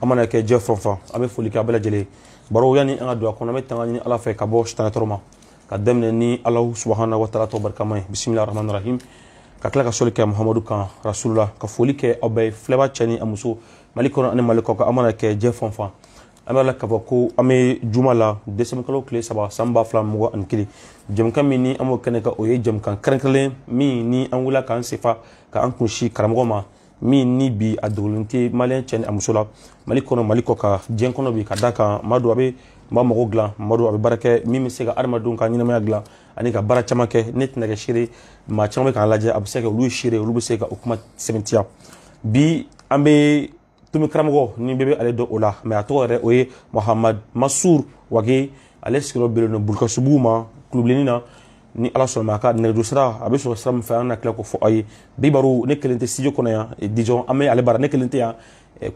a mana kɛ diɲɛ fan o fan an bɛ foli kɛ a bɛɛ lajɛlen baro yanni an ka don a kɔnɔ an bɛ tanga ɲini ala fɛ ka bɔ sitanɛ tɔɔrɔ ma ka daminɛ ni ala subahana wa taala tɔgɔ barikama ye bisimila rahman rahim ka tila ka soli kɛ muhamadu kan rasulula ka foli kɛ aw bɛɛ filɛbaa cɛ ni a muso mali kɔnɔ ani mali kɔ kan a mana kɛ diɲɛ fan o fan an b'a la k'a fɔ ko an bɛ juma la desanburukalo tile saba san ba fila mugan ani kelen jɛmukan min ni an b'o kɛnɛ kan o ye jɛmukan kɛrɛnkɛrɛnlen min ni an wulila k'an sen fa k'an kun sin karamɔgɔ ma min ni bi a dogolen tɛ maliyɛn cɛ ni a muso la mali kɔnɔ mali kɔ kan diɲɛ kɔnɔ bi ka d'a kan maa don a bɛ maa mago dilan maa don a bɛ baara kɛ min bɛ se ka adamadenw ka ɲɛnamaya dilan ani ka baara caman kɛ ne tɛna kɛ seere maa caman bɛ k'an lajɛ a bɛ se ka olu seere olu bɛ se ka o kuma sɛmɛntiya bi an bɛ tumi karamɔgɔ ni bɛɛ bɛ ale dɔn o la mais a tɔgɔ yɛrɛ o ye mahamadu masuru wage ale sigiyɔrɔ bɛnnen don bulukasumbugu ma kulubilenni na ni ala sɔnna a ka nɛgɛjuru sira a bɛ sɔrɔ sira min fɛ an na tila k'o fɔ aw ye bi baro ne kelen tɛ studio kɔnɔ yan disons an bɛ ale bara ne kelen tɛ yan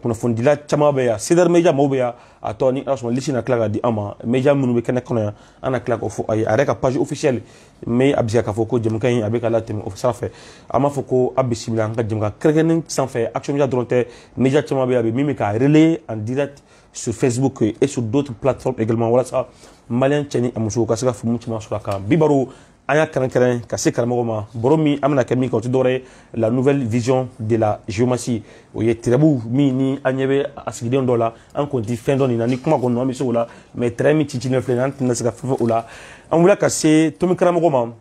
kunnafonidila caman bɛ yan c'est-à-dire media mɔgɔw bɛ yan a tɔgɔ ni ala sɔnna lisi na tila ka di an ma media minnu bɛ kɛnɛ kɔnɔ yan an na tila k'o fɔ aw ye a yɛrɛ ka page officielle mais a bisa k'a fɔ ko jɛmukan in a bɛ ka latɛmɛ o sira fɛ an b'a fɔ ko a bisimila an ka jɛmukan kɛrɛnkɛrɛnnen sanfɛ action media dɔrɔn tɛ media caman bɛ yan bi min bɛ k'a relayer en direct sur Facebook et sur d'autres plateformes également walasa malien cɛ ni a musow ka se ka faamu caman sɔrɔ a kan bi baro an y'a kɛrɛnkɛrɛn ka se karamɔgɔ ma baro min an bɛna kɛ min kan o tɛ dɔwɛrɛ ye la nouvelle vision de la géomancie o ye tarabu min ni an ɲɛ bɛ a sigilen dɔ la an kɔni tɛ fɛn dɔn nin na ni kuma kɔni an bɛ se o la mais tiiri min cicilen filɛ nin an tɛna se ka fɛn fɔ o la an wulila ka se tumi karamɔgɔ ma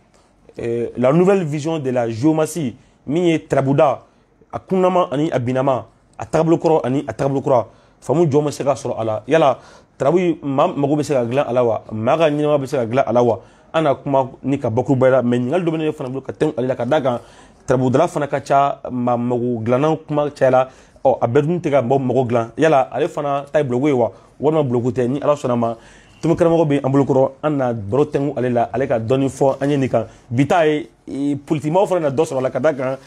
la nouvelle vision de la géomancie min ye tarabuda a kununama ani a binama a tagabolo kɔrɔ ani a tagabolo kura faamu jumɛn bɛ se ka sɔrɔ a la yala tarabu maa mago bɛ se ka dilan a la wa maa ka ɲɛnamaya bɛ se ka dilan a la wa an na kuma nin kan bakurubaya la mais ɲininkali dɔ bɛ ne fana bolo ka tɛmɛ ale la ka d'a kan tarabudala fana ka ca maa mago dilanna kuma cayala ɔ a bɛɛ dun tɛ ka mɔgɔ mago dilan yala ale fana ta ye buloko ye wa walima buloko tɛ ni ala sɔnna ma tumi karamɔgɔ bɛ an bolo kɔrɔ an na baro tɛngu ale la ale ka dɔɔni fɔ an ye nin kan bi ta ye politikimaaw fana na dɔ sɔrɔ a la ka d'a kan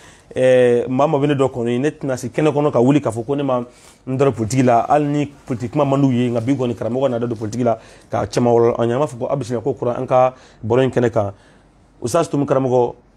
maa o maa bɛ ne dɔn kɔni ne tɛna se kɛnɛ kɔnɔ ka wuli k'a fɔ ko ne ma n dɔrɔ politiki la hali ni politiki kuma man d'u ye nka bi kɔni karamɔgɔ na da don politiki la ka caman walan an ye an b'a fɔ ko aw bisimila ko kura an ka baro in kɛnɛ kan usutazi tumi karamɔgɔ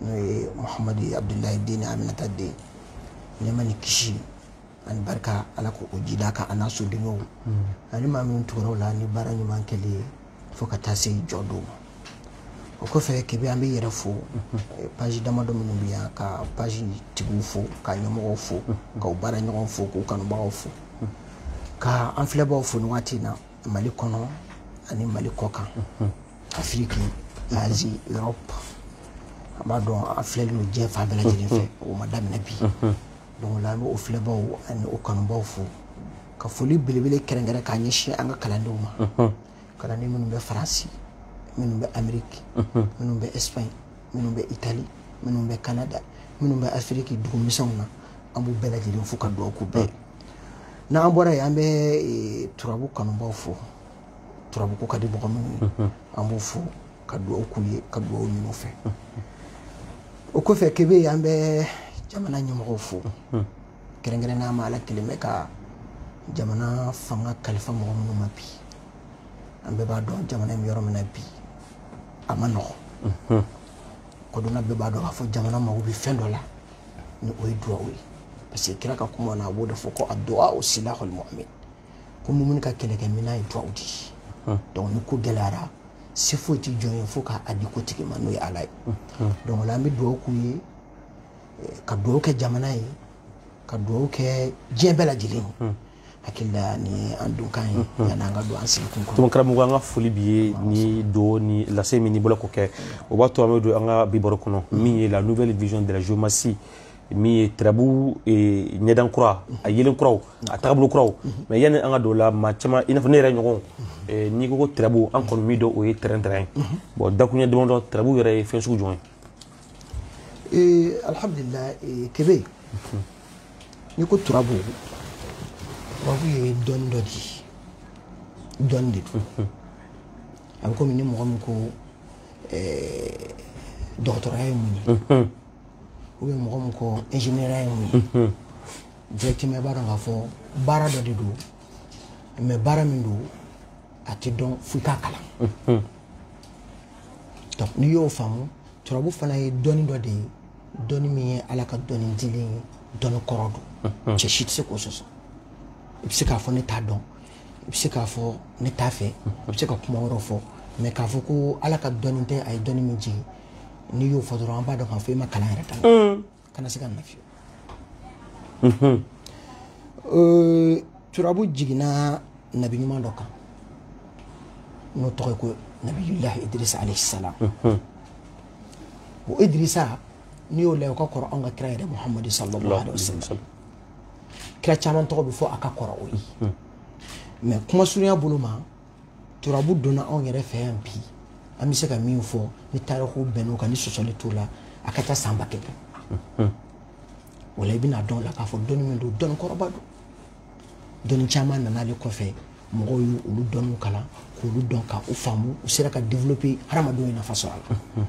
n'o ye muhamadu ye abudulayi den ni aminata den nɛɛma ni kisi ani barika ala k'o jiidi a kan an'a sodenw ani maa minnu tugura o la ni baara ɲuman kɛli ye fo ka taa se jɔ don ma o kɔfɛ kɛ bi an bɛ yɛrɛ fo eh, paji damadɔ minnu bɛ yan ka paji tigiw fo ka ɲɛmɔgɔw fo ka u baaraɲɔgɔnw fo k'u kanubagaw fo ka an filɛbaaw fo nin waati in na mali kɔnɔ ani mali kɔ kan afiriki azi europe an b'a dɔn an filɛlen don diɲɛ fan bɛɛ lajɛlen fɛ o ma daminɛ bi donc la an bɛ o filɛbaw ani o kanubaw fo ka foli belebele kɛrɛnkɛrɛn k'a ɲɛsin an ka kalandenw ma kalanden minnu bɛ faransi minnu bɛ ameriki minnu bɛ espagne minnu bɛ itali minnu bɛ canada minnu bɛ afiriki dugumisɛnw na an b'u bɛɛ lajɛlen fo ka dugawu k'u bɛɛ ye n'an bɔra yen an bɛ turabu kanubaw fo turabu ko ka di mɔgɔ minnu ye mhm. an b'u fo ka dugawu k'u ye ka dugawu ɲini u fɛ mhm. o kɔfɛ kebe an bɛ jamana ɲɛmɔgɔw fo mhm. kɛrɛnkɛrɛnnenya ma ala kɛlen bɛ ka jamana fanga kalifa mɔgɔ minnu ma bi an bɛɛ b'a dɔn jamana in bɛ yɔrɔ min na bi a ma nɔgɔn kodɔnna bɛɛ b'a dɔn k'a fɔ jamana mago bɛ fɛn dɔ la ni o ye duwawu ye parce que kira ka kuma na a b'o de fɔ ko aduwawu silahul mumin ko mumini ka kɛlɛkɛminɛn ye duwawu de ye hmm. donc ni ko gɛlɛyara se foyi tɛ jɔn ye fo k'a di ko tigi ma n'o ye ala ye hmm. Hmm. donc o la an bɛ duwawu k'u ye eh, ka duwawu kɛ jamana ye ka duwawu kɛ diɲɛ bɛɛ lajɛlen ye hakili la nin y'an donkan ye yanni an ka don an sigikun kɔnɔ tuma karamɔgɔ an ka foli b'i ye ni do ni lase min n'i bolo k'o kɛ o b'a to an bɛ don an ka bi baro kɔnɔ min ye la nouvelle vision de la géomancie min ye turabu ɲɛda kura a yelen kuraw a tagabolo kuraw mais yanni an ka don o la maa caman i n'a fɔ ne yɛrɛ ɲɔgɔn n'i ko ko turabu an kɔni min dɔn o ye tɛrɛn tɛrɛn ye bon dakuruɲɛ damadɔ turabu yɛrɛ ye fɛn sugu jumɛn ye alhamdulilah kebe n'i ko turabu turabu ye dɔnni dɔ di dɔnni de don a bɛ komi ni mɔgɔ min ko dɔgɔtɔrɔya ye mun ye ou bien mɔgɔ min ko ingénieur ye mun ye directement i b'a dɔn k'a fɔ baara dɔ de don mais baara min don a tɛ dɔn f'i k'a kalan donc n'i y'o faamu turabu fana ye dɔnni dɔ de ye dɔnni min ye ala ka dɔnni dilen ye dɔnni kɔrɔ don cɛ si tɛ se k'o sɔsɔ i bɛ se k'a fɔ ne t'a dɔn i bɛ se k'a fɔ ne t'a fɛ i bɛ se ka kuma wɛrɛw fɔ mais k'a fɔ ko ala ka dɔnni tɛ a ye dɔnni min jigin n'i y'o fɔ dɔrɔn an b'a dɔn k'a fɔ i ma kalan yɛrɛ daminɛ kana se ka na fiyewu mhm. euh, turabu jiginna nabi ɲuman dɔ kan n'o tɔgɔ ye ko nabiyulahi idirisa alayhi salam mhm. o idirisa n'i y'o lajɛ o ka kɔrɔ anw ka kira yɛrɛ muhamadu sallallahu alayhi wa sallam kira caman tɔgɔ bɛ fɔ a ka kɔrɔ o ye mais kuma surunya bolo ma turabu donna anw yɛrɛ fɛ yan bi an bɛ se ka min fɔ ni tariku bɛnn'o kan ni sɔsɔli t'o la a ka ca san ba kelen hmm. o la i bɛna dɔn o la k'a fɔ dɔnni min don dɔnni kɔrɔba don dɔnni caman nana ale kɔfɛ mɔgɔw ye olu dɔnniw kalan k'olu dɔn ka u faamu u sera ka développer hadamadenw ye nafa sɔrɔ a la hmm.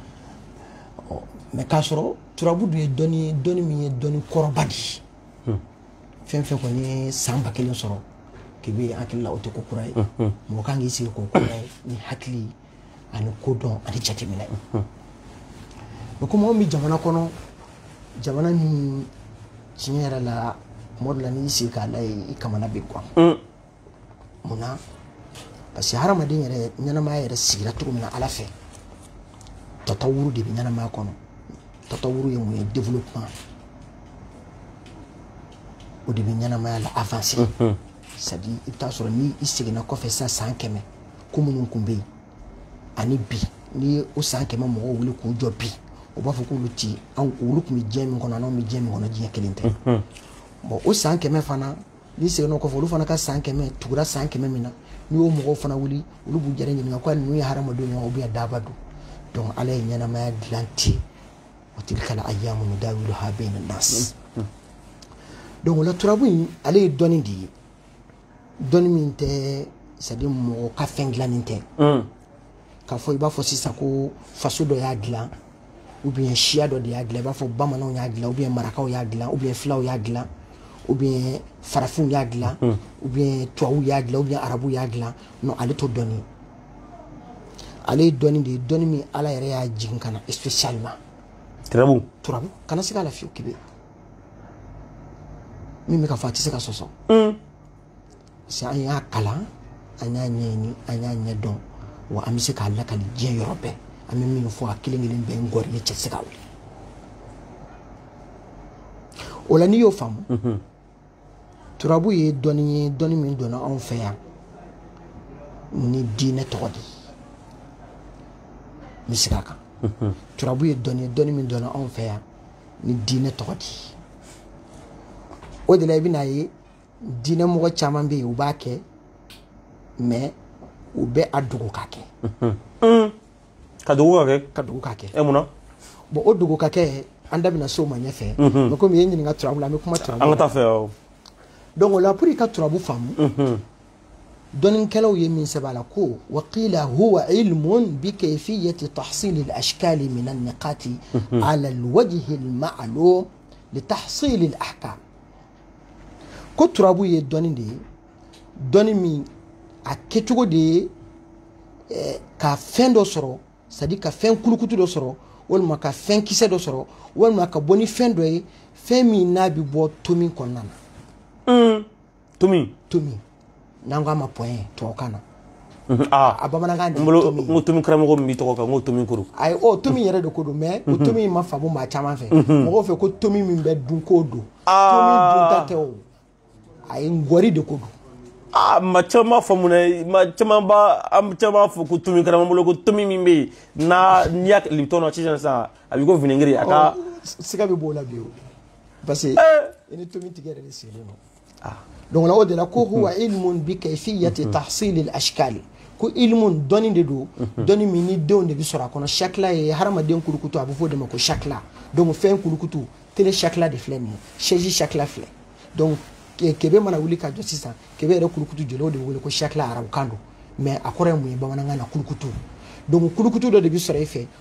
ɔ mais k'a sɔrɔ turabu dun ye dɔnni ye dɔnni min ye dɔnni kɔrɔba de ye fɛn fɛn kɔni ye san ba kelen sɔrɔ k'i bɛ hakili la o tɛ ko kura ye mɔgɔ ka kan k'i sigi k'o kuraya ni hakili ani kodɔn ani jateminɛ o comme anw bɛ jamana kɔnɔ jamana min tiɲɛ yɛrɛ la tuma dɔ la n'i sigi k'a lajɛ i kamana bɛ gan mun na parce que hadamaden yɛrɛ ɲɛnamaya yɛrɛ sigira cogo min na ala fɛ tatawuru de bɛ ɲɛnamaya kɔnɔ tatawuru ye mun ye développement o de bɛ ɲɛnamaya la avancer mhm. c'est à dire i bɛ taa sɔrɔ ni i seginna kɔfɛ sisan san kɛmɛ ko minnu tun bɛ yen ani bi n'i ye o san kɛmɛ mɔgɔw wuli k'u jɔ bi u b'a fɔ k'olu ti anw olu tun bɛ diɲɛ min kɔnɔ an'anw bɛ diɲɛ min kɔnɔ diɲɛ kelen tɛ bon o san kɛmɛ fana n'i seginn'o kɔfɛ olu fana ka san kɛmɛ tugura san kɛmɛ min na n'i y'o mɔgɔw fana wuli olu b'u yɛrɛ ɲininka ko ninnu ye hadamadenw ye ou bien daaba don donc ala ye ɲɛnamaya dilan ten wa tilkal ayyamu nudawiluha bayna nas donc o la turabu in ale ye dɔnni de ye dɔnni min tɛ c'est à dire mɔgɔ ka fɛn dilannen tɛ k'a fɔ i b'a fɔ sisan ko faso dɔ y'a dilan ou bien siya dɔ de y'a dilan i b'a fɔ bamananw y'a dilan ou bien marakaw y'a dilan ou bien filaw y'a dilan ou bien farafinw y'a dilan hmm. ou bien tubabuw y'a dilan ou bien arabuw y'a dilan non ale t'o dɔnni ale ye dɔnni de ye dɔnni min ala yɛrɛ y'a jigin ka na spécialement turabu turabu kana siga a la fiyewu k'i bɛ min bɛ ka fɔ a tɛ se ka sɔsɔ hmm. si an y'a kalan an y'a ɲɛɲini an y'a ɲɛdɔn wa an bɛ se k'a lakali diɲɛ yɔrɔ bɛɛ an bɛ min fɔ a kelen kelen bɛɛ n gɔrili cɛ se ka wuli o la n'i y'o faamu mhm. turabu ye dɔnni ye dɔnni min donna anw fɛ yan ni diinɛ tɔgɔ de ye n bɛ segin a kan mhm. turabu ye dɔnni ye dɔnni min donna anw fɛ yan ni diinɛ tɔgɔ de ye o de la i bɛna ye diinɛ mɔgɔ caman bɛ yen u b'a kɛ mais u bɛ a dogo ka kɛ ka dogo ka kɛ ka dogo ka kɛ e munna bon o dogo ka kɛ an da bɛna se o ma ɲɛfɛ mais comme i ye ɲininka turabu la an bɛ kuma turabu kan ka taa a fɛ awɔ donc o la pour i ka turabu faamu dɔnnikɛlaw ye min sɛbɛn a la ko wa qila huwa ilmun bi kayfiyati tahsil al ashkal min an niqati ala al wajhi al ma'lum li tahsil al ahkam ko turabu ye dɔnni de ye dɔnni min a kɛcogo de ye eh, ka fɛn dɔ sɔrɔ c'est-à-dire ka fɛn kulukutu dɔ sɔrɔ walima ka fɛn kisɛ dɔ sɔrɔ walima ka bɔ ni fɛn dɔ ye fɛn min n'a bɛ bɔ tomi kɔnɔna na. Mm. tomi. tomi. n'an k'a ma point tubabukan na mhm, ah. a bamanankan de bolo n ko tomi karamɔgɔ min b'i tɔgɔ kan n ko tomi kuru ayi o tomi yɛrɛ de ko don mais o mhm. tomi in ma faamu maa caman fɛ mhm. mɔgɔw fɛ ko tomi min bɛ dun k'o don ah. tomi dunta tɛ o a ye ngɔri de ko don aa ah, ma caman b'a faamu dɛ ma caman b'a an caman b'a fɔ ko tomi karamɔgɔ bolo ko tomi min bɛ yen n'a n'i y'a kɛ libitɔn na sisan sisan a b'i ko vinɛgiri a ka oh, siga bɛ b'o la bi o parce que eh. i ni tomi tigi yɛrɛ de sigilen don ah. donc o de la ko huwa mm-hmm. ilmun bi kayfiyati mm-hmm. tahsil al ashkal ko ilmun dɔnni de don mm-hmm. dɔnni min ni denw de bɛ sɔrɔ a kɔnɔ shakla ye hadamaden kulukutu a bɛ fɔ o de ma ko shakla donc fɛn kulukutu tele shakla de filɛ nin ye chaise shakla filɛ donc kebe mana wuli ka jɔ sisan kebe yɛrɛ kulukutu jɔlen o de bɛ wele ko shakla arabukan don mais a kɔrɔ ye mun ye bamanankan na kulukutu donc kulukutu dɔ de bɛ sɔrɔ e fɛ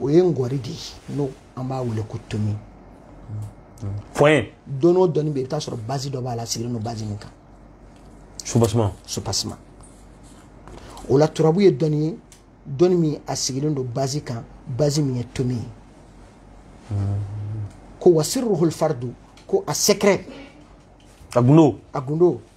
o ye ngɔri de ye n'o an b'a wele ko tomi point dɔnni o dɔnni bɛ yen i bɛ t'a sɔrɔ base dɔ b'a la sigilen don base min kan soubassement soubassement o la turabu ye dɔnni ye dɔnni min a sigilen don base kan base min ye tomi ye ko wa sirruhul fardu ko a secret a gundo a gundo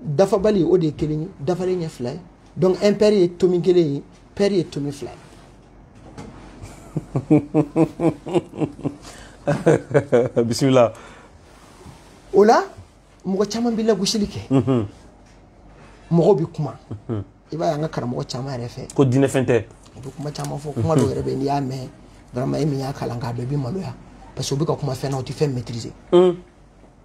dafabali o de ye kelen ye dafalen ye fila ye donc impair ye tomi kelen ye pair ye tomi fila ye bisimila o la mɔgɔ caman bɛ lagosili kɛ mhm. mɔgɔw bɛ kuma mhm. i b'a ye an ka karamɔgɔ caman yɛrɛ fɛ ko diinɛfɛn tɛ u bɛ kuma caman fɔ kuma dɔw yɛrɛ bɛ n'i y'a mɛn vraiment e min y'a kalan k'a dɔn i bɛ maloya parce que u bɛ ka kuma fɛn na u tɛ fɛn maîtriser mhm.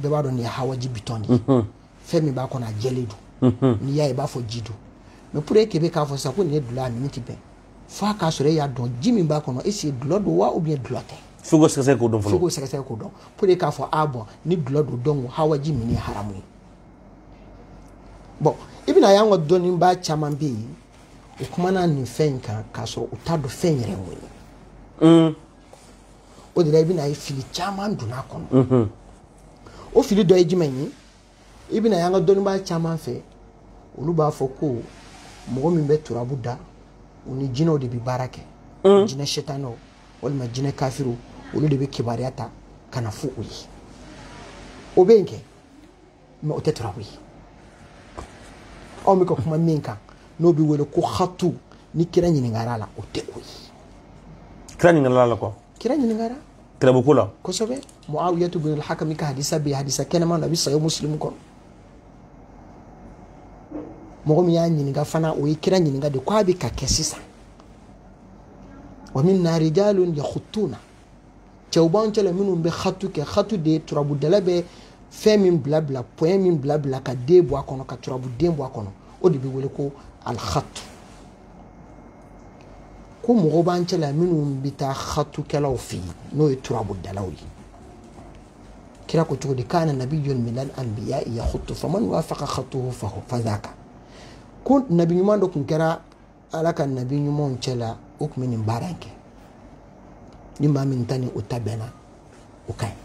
bɛɛ b'a dɔn nin ye hawaji bitɔn de ye mhm. fɛn min b'a kɔnɔ a jɛlen don mhm. n'i y'a ye i b'a fɔ ji don mais pour e kebe k'a fɔ sisan ko nin ye dulɔ a min tɛ bɛn fo a k'a sɔrɔ e y'a dɔn ji min b'a kɔnɔ est-ce que dulɔ don wa ou bien dulɔ tɛ fo k'o sɛgɛsɛgɛ k'o dɔn fɔlɔ fo k'o sɛgɛsɛgɛ k'o dɔn pour e k'a fɔ a bon ni dulɔ don donc hawaji min ye haramu ye bon i bɛna y'an ka dɔnnibaa caman bɛ yen u kumana nin fɛn in kan k'a sɔrɔ u t'a dɔn fɛn yɛrɛ ye mun ye o de la i bɛna ye fili caman donna a kɔnɔ o fili dɔ ye jumɛn ye i bɛna y'an ka dɔnnibaa caman fɛ olu b'a fɔ ko mɔgɔ min bɛ turabu da u ni jinɛw de bɛ baara kɛ jinɛ setanɛw walima jinɛ kafiriw olu de bɛ kibaruya ta ka na fɔ u ye o bɛ yen kɛ mɛ o tɛ turabu ye anw bɛ ka kuma min kan n'o bɛ wele ko hatu ni kira ɲininkara a la o tɛ o ye kira ɲininkara la kuwa kira ɲininkara turabuko la kosɛbɛ muawiyatu bin alhakami ka hadisa bɛ hadisa kɛnɛman na a bɛ sahihu musilimu kɔnɔ mɔgɔ min y'a ɲininka fana o ye kira ɲininka de ko a bɛ ka kɛ sisan wa minna rijalun yakhutuna cɛw b'an cɛla minnu bɛ hatu kɛ hatu de ye turabudala bɛ fɛn min bila bila pɔyɛn min bila bila ka den bɔ a kɔnɔ ka turabuden bɔ a kɔnɔ o de bɛ wele ko alihatu ko mɔgɔw b'an cɛla minnu bɛ taa hatukɛlaw fɛ yen n'o ye turabudalaw ye kira ko cogo di kana nabiyun minal anbiya yahutu faman wafaqa hatuhu fahu fazaka ko nabi ɲuman dɔ tun kɛra ala ka nabi ɲumanw cɛla o tun bɛ nin baara in kɛ ni maa min ta ni o ta bɛnna o ka ɲi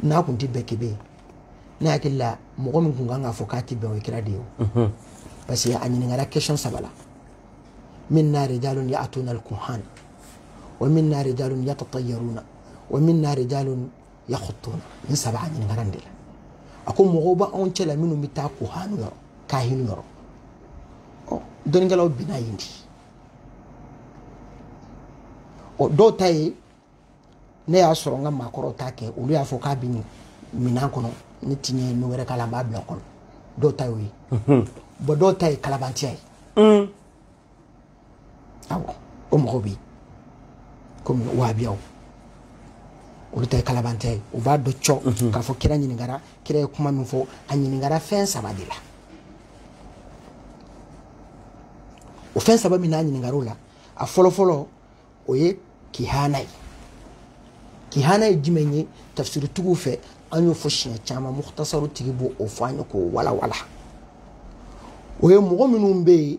n'a kun tɛ bɛn kebe ne hakili la mɔgɔ min kun kan k'a fɔ k'a tɛ bɛn o ye kira de ye o mhm. parce que a ɲininkara question saba la minna rijalun ya'tuna al-kuhan wa minna rijalun yatatayaruna wa minna rijalun yakhutuna nin saba a ɲininkara nin de la a ko mɔgɔw b'anw cɛla minnu bɛ taa kuhanu yɔrɔ kahinu yɔrɔ ɔ dɔnnikɛlaw binna yen de ɔ dɔw ta ye ne y'a sɔrɔ n ka maakɔrɔw t'a kɛ olu y'a fɔ k'a bɛ nin minan kɔnɔ ne ti ɲɛɲini wɛrɛ k'a la n b'a bila kɔnɔ dɔw ta y'o ye bɔn dɔw ta ye kalabantiya ye awɔ o mɔgɔw bɛ yen komi wahabiyaw olu ta ye kalabantiya ye u b'a dɔn cɔ mhm. k'a fɔ kira ɲininkara kira ye kuma min fɔ a ɲininkara fɛn saba de la o fɛn saba min n'a ɲininkara o la a fɔlɔfɔlɔ o ye kihana ye kihana ye jumɛn ye tafsiritigiw fɛ an y'o fɔ siɲɛ caman muhtasaru tigi b'o o fɔ an ye k'o walawala o ye mɔgɔ minnu bɛ yen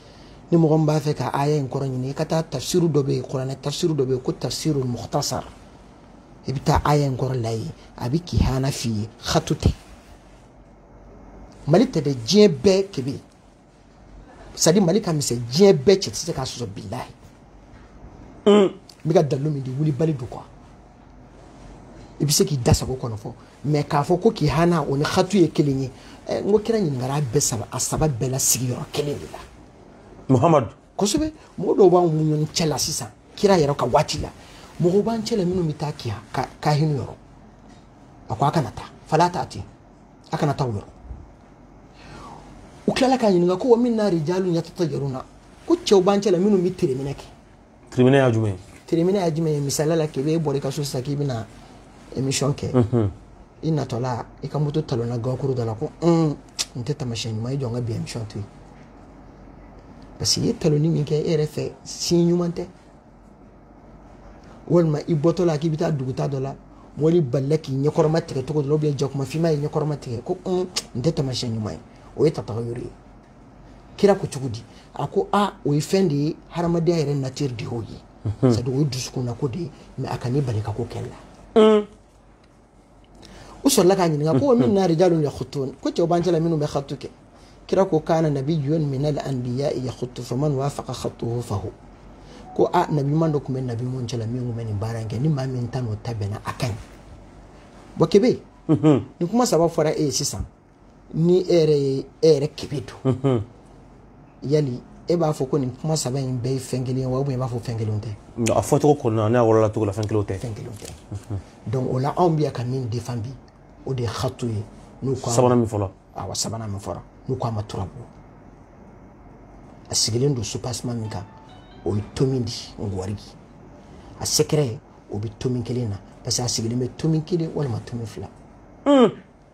ni mɔgɔ min b'a fɛ ka aya in kɔrɔ ɲini i ka taa tafsiru dɔ bɛ yen kuranɛ tafsiru dɔ bɛ yen ko tafsiru muhtasar i bɛ taa aya in kɔrɔ lajɛ a bɛ kihana f'i ye hatu tɛ mali tɛ dɛ diɲɛ bɛɛ kebe sadi mali ka misɛn diɲɛ bɛɛ cɛ tɛ se k'a sɔsɔ bilahi n bɛ ka dalilu min di wulibali don kuwa i bɛ se k'i da sago kɔni fɔ mɛ k'a fɔ ko kihana o ni hatu ye kelen ye eh, n ko kira ɲininkara bɛɛ saba a saba bɛɛ la sigiyɔrɔ kelen de la muhamadu kosɛbɛ mɔgɔ dɔw b'an ni ɲɔgɔn cɛ la sisan kira yɛrɛ ka waati la mɔgɔw b'an cɛ la minnu bɛ taa kiya kahinu yɔrɔ a ko a kana taa fala ta'tihim a kana taa o yɔrɔ u tilala k'a ɲininka ko wa minna rijalun yatatayaruna ko cɛw b'an cɛ la minnu bɛ tereminɛ kɛ tere minɛ ye jumɛn ye tere minɛ ye jumɛn ye misaliya la k'i bɛ e bɔra i ka so sisan k'i bɛna émission kɛ i natɔ la i ka moto talonna gakuru dɔ la ko un nin tɛ tamasiyɛn ɲuman ye jɔ n ka bi émission to yen parce que i ye talonni min kɛ e yɛrɛ fɛ siɲɛ ɲuman tɛ walima i bɔtɔ la k'i bɛ taa duguta dɔ la wulu bolila k'i ɲɛkɔrɔma tigɛ cogo dɔ la jakuma finma y'i ɲɛkɔrɔma tigɛ ko nin tɛ tamasiyɛn ɲuman ye o ye tatayuru ye kira ko cogo di a ko a o ye fɛn de ye hadamadenya yɛrɛ nature de y'o ye mhm. c'est-à-dire o ye dusukunna ko de ye mais a kan'i bali ka ko kɛ la mm. u sɔrɔla k'a ɲininka ko minna rijalu yakhutun ko cɛw b'an cɛla minnu bɛ khatu kɛ kira ko kana nabiyun min al anbiya yakhutu faman wafaqa khatuhu fahu ko a nabiɲuman dɔ tun bɛ nabiɲumanw cɛla min tun bɛ nin baara in kɛ ni maa min ta n'o ta bɛnna a ka ɲi bon kebe mhm. nin kuma saba fɔra e ye sisan ni e yɛrɛ ye e yɛrɛ kebe dun yali e b'a fɔ ko nin kuma saba in bɛɛ ye fɛn kelen ye wa ou bien i b'a fɔ fɛn kelenw tɛ a fɔcogo kɔnɔna n'a wɔlɔla cogo la fɛn kelenw tɛ fɛn kelenw tɛ donc o la anw bɛ yan ka min defan bi o de ye khatu ye n'u ko sabanan min fɔla awa sabanan min fɔra n'u ko a ma turabu a sigilen don spécialement min kan o ye tomin di ngwarigi a secret o bɛ tomin kelen na parce que a sigilen bɛ tomin kelen walima tomin fila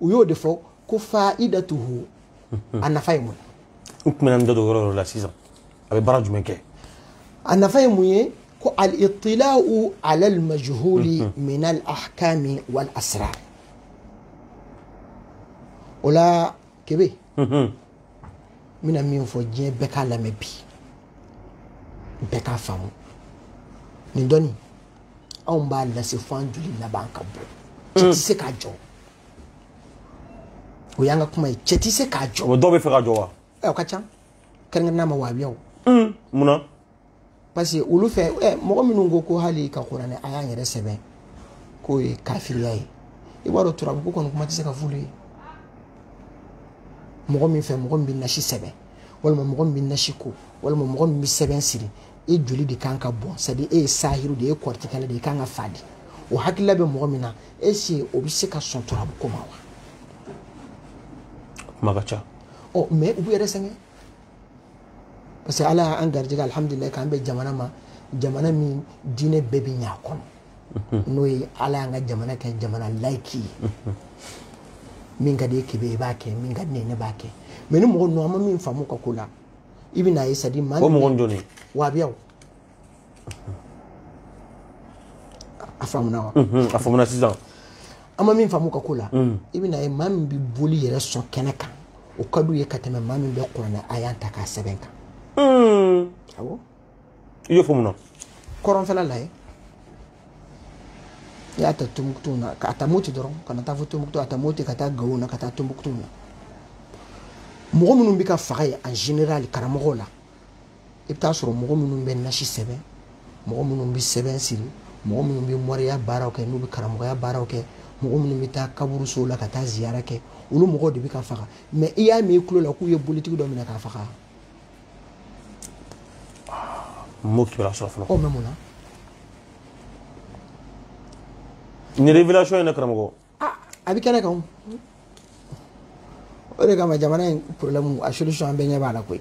u y'o de fɔ ko faidatuhu a nafa ye mun ye n tun bɛna n da don yɔrɔ yɔrɔ la sisan a bɛ baara jumɛn kɛ a nafa ye mun ye ko al-itila'u ala al-majhuli min al-ahkami wal asrar o la kebe n bɛna min fɔ diɲɛ bɛɛ k'a lamɛn bi bɛɛ k'a faamu nin dɔnni anw b'a lase fo an joli laban ka bɔ cɛ tɛ se k'a jɔ o y'an ka kuma ye cɛ tɛ se k'a jɔ o dɔw b'a fɛ k'a jɔ wa ɛ o ka ca kɛrɛnkɛrɛnnenya ma wahabiyaw mun na parce que olu fɛ ɛ mɔgɔ minnu ko ko hali ka kuranɛ aya yɛrɛ sɛbɛn k'o ye kafiriya ye i b'a dɔn turabu ko kɔni kuma tɛ se ka f'olu ye mɔgɔ min fɛ mɔgɔ min bɛ nasi sɛbɛn walima mɔgɔ min bɛ nasi ko walima mɔgɔ min bɛ sɛbɛn siri e joli de kan ka bɔn c'est-à-dire e ye sahiru de ye kɔrɔtikɛla de ye kan ka faa de o hakilila bɛ mɔgɔ min na est-ce que o bɛ se ka sɔn turabu ko ma wa kuma ka ca ɔ mais u b'u yɛrɛ sɛgɛn parce que ala y'an garijɛgɛ alihamudulila k'an bɛ jamana ma jamana min diinɛ bɛɛ bɛ ɲɛ a kɔnɔ n'o ye ala y'an ka jamana kɛ jamana layiki ye min ka di e ye kebe i b'a kɛ min ka di ne ye ne b'a kɛ mais ni mɔgɔ ninnu an ma min faamu u ka ko la i bɛn'a ye c'est-à-dire maa o mɔgɔ jɔn de wahabiyaw a faamuna wa a faamuna sisan an ma min faamu u ka ko la i bɛn'a ye maa min bɛ boli yɛrɛ sɔn kɛnɛ kan o ka d'u ye ka tɛmɛ maa min bɛ kuranɛ aya ta k'a sɛbɛn kan awɔ i y'o fɔ mun na kɔrɔnfɛla lajɛ i y'a ta tombouctou na ka ta moti dɔrɔn ka na taa fo tombouctou a ta moti ka taa gawo na ka taa tombouctou na mɔgɔ minnu bɛ ka faga yen en général karamɔgɔw la i bɛ t'a sɔrɔ mɔgɔ minnu bɛ nasi sɛbɛn mɔgɔ minnu bɛ sɛbɛn siri mɔgɔ minnu bɛ moriya baaraw kɛ n'u bɛ karamɔgɔya baaraw kɛ mɔgɔ minnu bɛ taa kaburusow la ka taa ziyara kɛ olu mɔgɔw de bɛ ka faga mais i y'a mɛn i tulo la k'u ye bolitigi dɔ minɛ k'a faga n m'o kibaruya sɔrɔ fɔlɔ. o mais mun na. nin révélation in dɛ karamɔgɔ. aa a bɛ kɛnɛ kan o. o de kama jamana in problème a solution an bɛɛ ɲɛ b'a la koyi.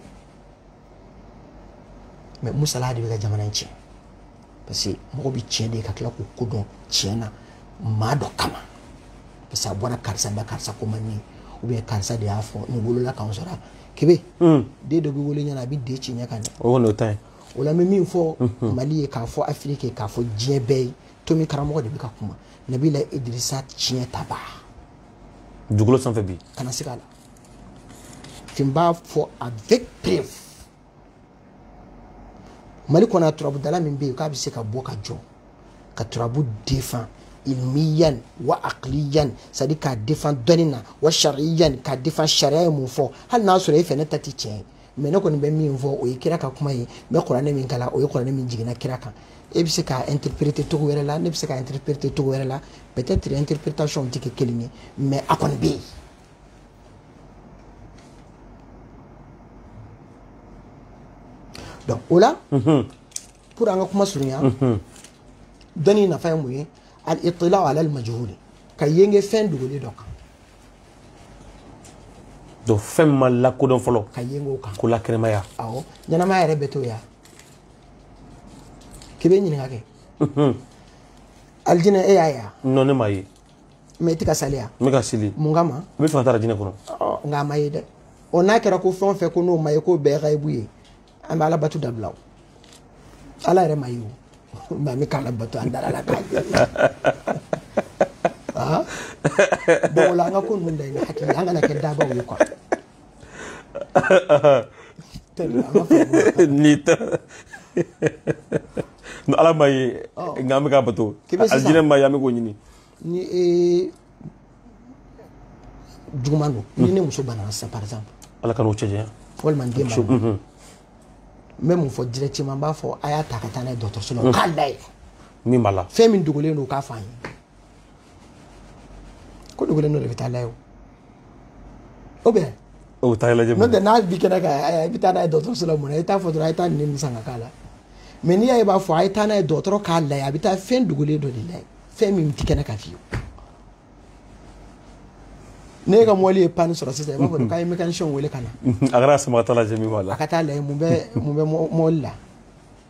mais musala de bɛ ka jamana in tiɲɛ. parce que mɔgɔ bɛ tiɲɛ de ye ka tila k'o kɔ don tiɲɛ na maa dɔ kama parce que a bɔra karisa da karisa ko man di ou bien karisa de y'a fɔ nin wolola k'an sɔrɔ kebe hmm. den dɔ bɛ wolo ɲɛna a bɛ den ci ɲɛ ka ɲɛ o kɔni o ta ye o la n bɛ min fɔ hmm. mali ye k'a fɔ afiriki ye k'a fɔ diɲɛ bɛɛ ye tomi karamɔgɔ de bɛ ka kuma nabila idirisa tiɲɛtabaa dugukolo sanfɛ bi kana se k'a la fin b'a fɔ avec preuve mali kɔnɔ a turabudala min bɛ yen k'a bɛ se ka bɔ ka jɔ ka turabu défend ilmiyan wa aqliyan c'est à dire k'a défend dɔnni na wa shariyan k'a défend sariya ye mun fɔ hali n'a sɔrɔ e fɛ ne ta tɛ tiɲɛ ye mais ne kɔni bɛ min fɔ o ye kira ka kuma ye n bɛ kuranɛ min kalan o ye kuranɛ min jiginna kira kan e bɛ se k'a interpréter cogo wɛrɛ la ne bɛ se k'a interpréter cogo wɛrɛ la peut-être interprétation tɛ kɛ kelen ye mais a kɔni bɛ yen donc o la pour an ka kuma surunya dɔnni nafa ye mun ye al itila ala al majhuli ka yenge fɛn dogolen dɔ kan donc fɛn ma lakodɔn fɔlɔ ka yenge o kan k'o lakɛnɛmaya awɔ ɲɛnamaya yɛrɛ bɛ to ya k'i bɛ ɲininka kɛ alijinɛ e y'a ye wa non ne m'a ye mais i tɛ ka seli wa n bɛ ka seli mun kama n bɛ fɛ ka taa alijinɛ kɔnɔ nka a ma ye dɛ ɔ n'a kɛra ko fɛn o fɛn ko n'o ma ye k'o bɛɛ gayibu ye an bɛ ala bato dabila o ala yɛrɛ ma ye o mais an bɛ k'ala bato an dara a la k'a ye bon o la an ka ko ninnu da i na hakili an kana kɛ dabaw ye quoi ni ta ni ala ma ye nka an bɛ k'a bato alijinɛ ma ye an bɛ k'o ɲini ni ee juguman don ni ne muso banana sisan par exemple ala k'an n'o cɛ janya walima n den ma n bɛ mun fɔ directement n b'a fɔ a y'a ta ka taa n'a ye dɔgɔtɔrɔso la o k'a lajɛ min b'a la fɛn min dogolen don o k'a fɔ an ye ko dogolen o de bɛ taa lajɛ ou bien o taa lajɛ n'o tɛ n'a bi kɛnɛ kan a bɛ taa n'a ye dɔgɔtɔrɔso la mun na i t'a fɔ dɔrɔn a ye taa nin san ka k'a la mais n'i y'a ye b'a fɔ a ye taa n'a ye dɔgɔtɔrɔ k'a lajɛ a bɛ taa fɛn dogolen dɔ de lajɛ fɛn min tɛ kɛnɛ kan fiyewu ne ka mɔbili ye panne sɔrɔ sisan i b'a fɔ k'a ye mécanicien wele ka na a kɛra sama ka taa lajɛ min b'a la a ka taa lajɛ mun bɛ mun bɛ mɔbili la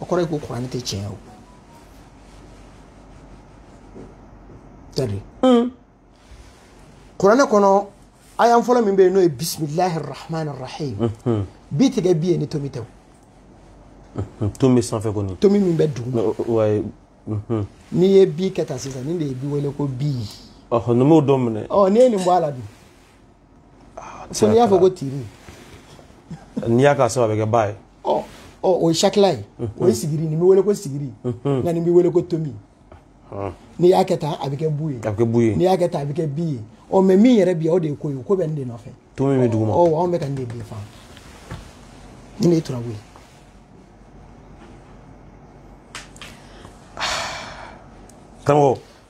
o kɔrɔ ye ko kuranɛ tɛ tiɲɛ ye c'est-à-dire hmm. kuranɛ kɔnɔ aya fɔlɔ min bɛ yen n'o ye bisimilahi rahmani rahim hmm, hmm. bi tɛ kɛ bi ye ni tomi tɛ o tomi sanfɛ kɔni tomi min bɛ duguma n'i ye bi kɛ tan sisan nin de ye bi wele ko bi ɔhɔ nin b'o dɔ minɛ ɔ n'i ye nin bɔ a la dun ah, fo n'i y'a fɔ ko tiri n'i y'a k'a sanfɛ a bɛ kɛ ba ye ɔ ɔ o ye sakila ye o ye sigiri nin bɛ wele ko sigiri nka nin bɛ wele ko tomi n'i y'a kɛ tan a bɛ kɛ bu ye a bɛ kɛ bu ye n'i y'a kɛ tan a bɛ kɛ bi ye ɔ mais min yɛrɛ bi o de ye ko ye ko bɛ nin de nɔfɛ tomi bɛ duguma ɔ anw bɛ ka nin de défend nin de ye turabu ye karamɔgɔ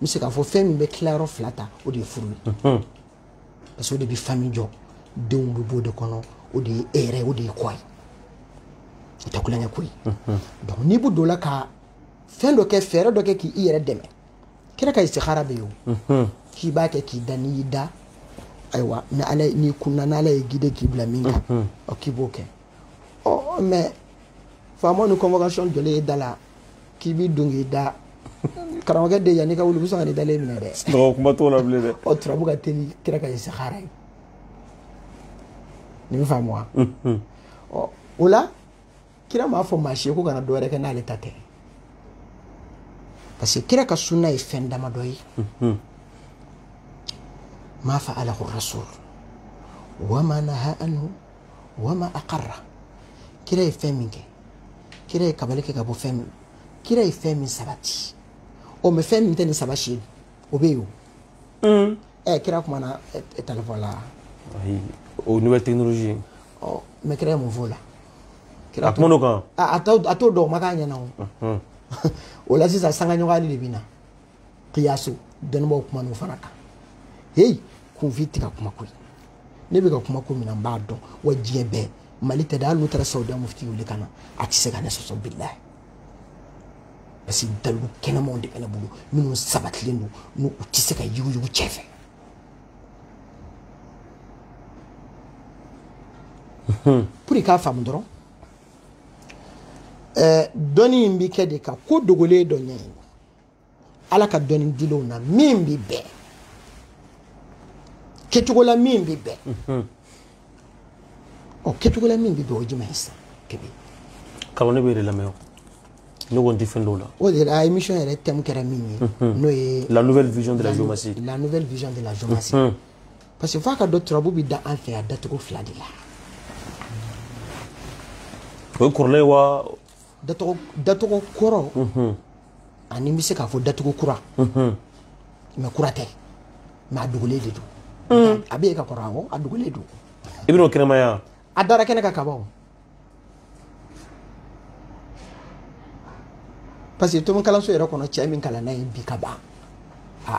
n bɛ se k'a fɔ fɛn min bɛ tilayɔrɔ fila ta o de ye furu ye parce que o de bɛ famille jɔ denw bɛ bɔ o de kɔnɔ o de ye e yɛrɛ o de ye kɔ ye o tɛ tulonkɛ ko ye donc n'i bɛ don o la ka fɛn dɔ kɛ fɛɛrɛ dɔ kɛ k'i yɛrɛ dɛmɛ kira ka istikhara bɛ yen o k'i b'a kɛ k'i da n'i y'i da ayiwa ni ala n'i kunna n'ala y'i guide k'i bila min kan ɔ k'i b'o kɛ ɔ mais faama ni convocation jɔlen ye da la k'i b'i don k'i da karamɔgɔkɛ de yann'i ka wuli u bɛ sɔn ka n'i dalen minɛ dɛ. sunɔgɔ kuma t'o la bilen dɛ. ɔ turabu ka teli kira ka istikhara ye nin bɛ faamu wa. ɔ o la kira m'a fɔ maa si ye ko kana dɔ wɛrɛ kɛ n'ale ta tɛ parce que kira ka sunna ye fɛn damadɔ ye. ma fa'alahu rasul wa ma naha anhu. wa ma aqarra kira ye fɛn min kɛ kira ye kabali kɛ ka bɔ fɛn min kira ye fɛn min sabati o mais fɛn min tɛ nin saba si ye o bɛ yen o ɛ kira kumana telefɔn la o nouvelle technologie ɔ mais kira ye mun fɔ o la a kuman'o kan a t'o dɔn o ma k'a ɲɛna o o la sisan sangaɲɔgɔnyali de bɛ na kiyasu dɔnnibaw kuman'o fana kan heyi kunfin tɛ ka kuma ko ye ne bɛ ka kuma ko min na n b'a dɔn wa diɲɛ bɛɛ mali tɛ dɛ hali n'u taara sawudiya mufti wele ka na a tɛ se ka ne sɔsɔ bilayi parce que dalilu kɛnɛmanw de bɛ ne bolo minnu sabatilen don n'u tɛ se ka yuguyugu cɛ fɛ pour i k'a faamu dɔrɔn dɔnni in bɛ kɛ de ka ko dogolen dɔ ɲɛɲini ala ka dɔnni dilenw na min bɛ bɛn kɛcogo la min bɛ bɛn mhm. ɔ kɛcogo la min bɛ bɛn o jumɛn ye sisan kebe kalo ne b'e de lamɛn o ne ko n tɛ fɛn dɔw la o de la émission yɛrɛ thème kɛra min ye mhm. n'o ye la nouvelle vision de la géomancie la nouvelle vision de la géomancie mhm. parce que f'a k'a dɔn turabu bɛ da an fɛ yan dacogo fila de la o ye kɔrɔlen wa dacogo kɔrɔ an'i bɛ se k'a fɔ dacogo kura mais kura tɛ mais a dogolen de don a bɛ yen ka kɔrɔ awɔ a dogolen don i bɛn'o kɛnɛmaya a dara kɛnɛ kan ka ban parce que tomi kalanso yɛrɛ kɔnɔ cɛ min kalanna yen bi ka ban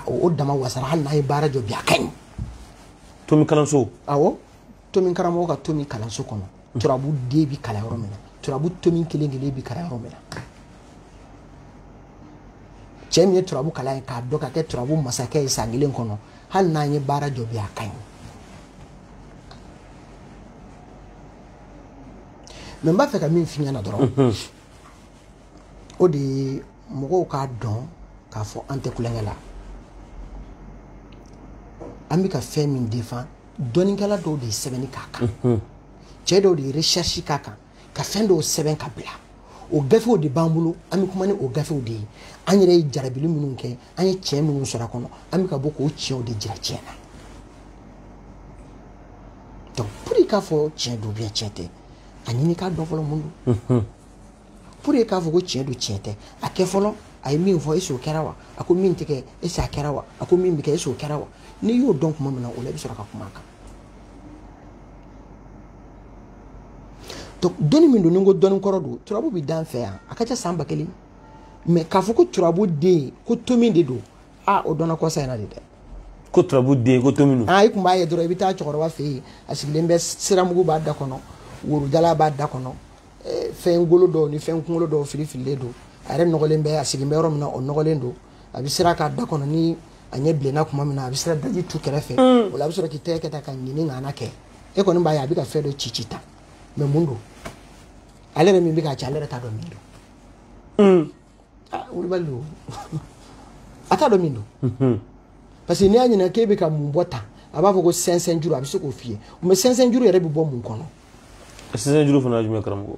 o dama wasara hali n'a ye baara jɔ bi a ka ɲi tomi kalanso awɔ tomi karamɔgɔ ka tomi kalanso kɔnɔ turabu den bi kalan yɔrɔ min na turabu tomi kelen kelen bi kalan yɔrɔ min na cɛ min ye turabu kalan yen k'a dɔn ka kɛ turabu masakɛ ye san kelen kɔnɔ hali n'a ye baara jɔ bi a ka ɲi mais n b'a fɛ ka min f'i ɲɛna dɔrɔn mhm. o de ye mɔgɔw k'a dɔn k'a fɔ an tɛ tulonkɛ la an bɛ ka fɛn min défend dɔnnikɛla dɔw de ye sɛbɛnni k'a kan cɛ dɔw de ye recherche k'a kan ka fɛn dɔw sɛbɛn ka bila o gafew de b'an bolo an bɛ kuma ni o gafew de ye an yɛrɛ ye jarabili minnu kɛ an ye tiɲɛ minnu sɔrɔ a kɔnɔ an bɛ ka bɔ k'o tiɲɛw de jira tiɲɛ na donc pour i k'a fɔ tiɲɛ don ou bien tiɲɛ tɛ a ɲini k'a dɔn fɔlɔ mun don pour i k'a fɔ ko tiɲɛ don tiɲɛ tɛ a kɛ fɔlɔ a ye min fɔ est-ce que o kɛra wa a ko min tɛ kɛ est-ce que a kɛra wa a ko min bɛ kɛ est-ce que o kɛra wa n'i y'o dɔn tuma min na o la i bɛ sɔrɔ ka kuma a kan donc dɔnni min don ni n ko dɔnni kɔrɔ don turabu bɛ d'an fɛ yan a ka ca san ba kelen mais k'a fɔ ko turabu den ko tomi de don ah o dɔnna kɔsa in na de dɛ ko turabu den ko tomi don i tun b'a ye dɔrɔn i bɛ taa cɛkɔrɔba fɛ yen a sigilen bɛ siramugu b'a da kɔnɔ woro jalan b'a da kɔnɔ eh, fɛn golo dɔw ni fɛn kunkolo dɔw fili fililen don a yɛrɛ nɔgɔlen bɛ a sigilen bɛ yɔrɔ min na o nɔgɔlen don a bɛ sira k'a da kɔnɔ ni a ɲɛ bilenna tuma min na a bɛ sira daji tu kɛrɛfɛ mm. o la a bɛ sɔrɔ k'i tɛgɛ kɛ tan ka ɲini ŋana kɛ e kɔni b'a ye a bɛ ka fɛn dɔ ci ci tan mais mun don ale yɛrɛ min bɛ k'a ci ale yɛrɛ t'a dɔn min don mm. ah, wulibali don a t'a dɔn min don mm-hmm. parce que n'i y'a ɲininka k'e bɛ ka mun bɔ tan a b'a fɔ ko cɛncɛn juru a bɛ se k'o f'i ye mais cɛncɛn juru yɛrɛ bɛ bɔ mun kɔnɔ sisan juru fana jumɛn karamɔgɔ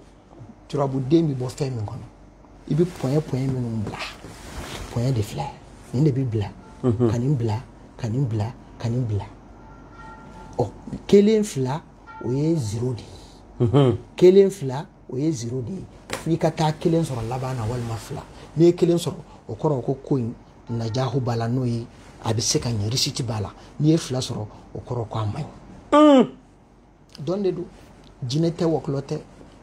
turabuden bɛ bɔ fɛn min kɔnɔ i bɛ point point minnu bila point de filɛ nin de bɛ bila mhm. ka nin bila ka nin bila ka nin bila ɔ kelen fila o ye zero de ye mhm. kelen fila o ye zero de ye f'i ka taa kelen sɔrɔ laban na walima fila n'i ye kelen sɔrɔ o kɔrɔ ko ko in najahu b'a la n'o ye a bɛ se ka ɲɛ réussite b'a la n'i ye fila sɔrɔ o kɔrɔ ko a man ɲi. dɔn de don jinɛ tɛ wɔkulɔ tɛ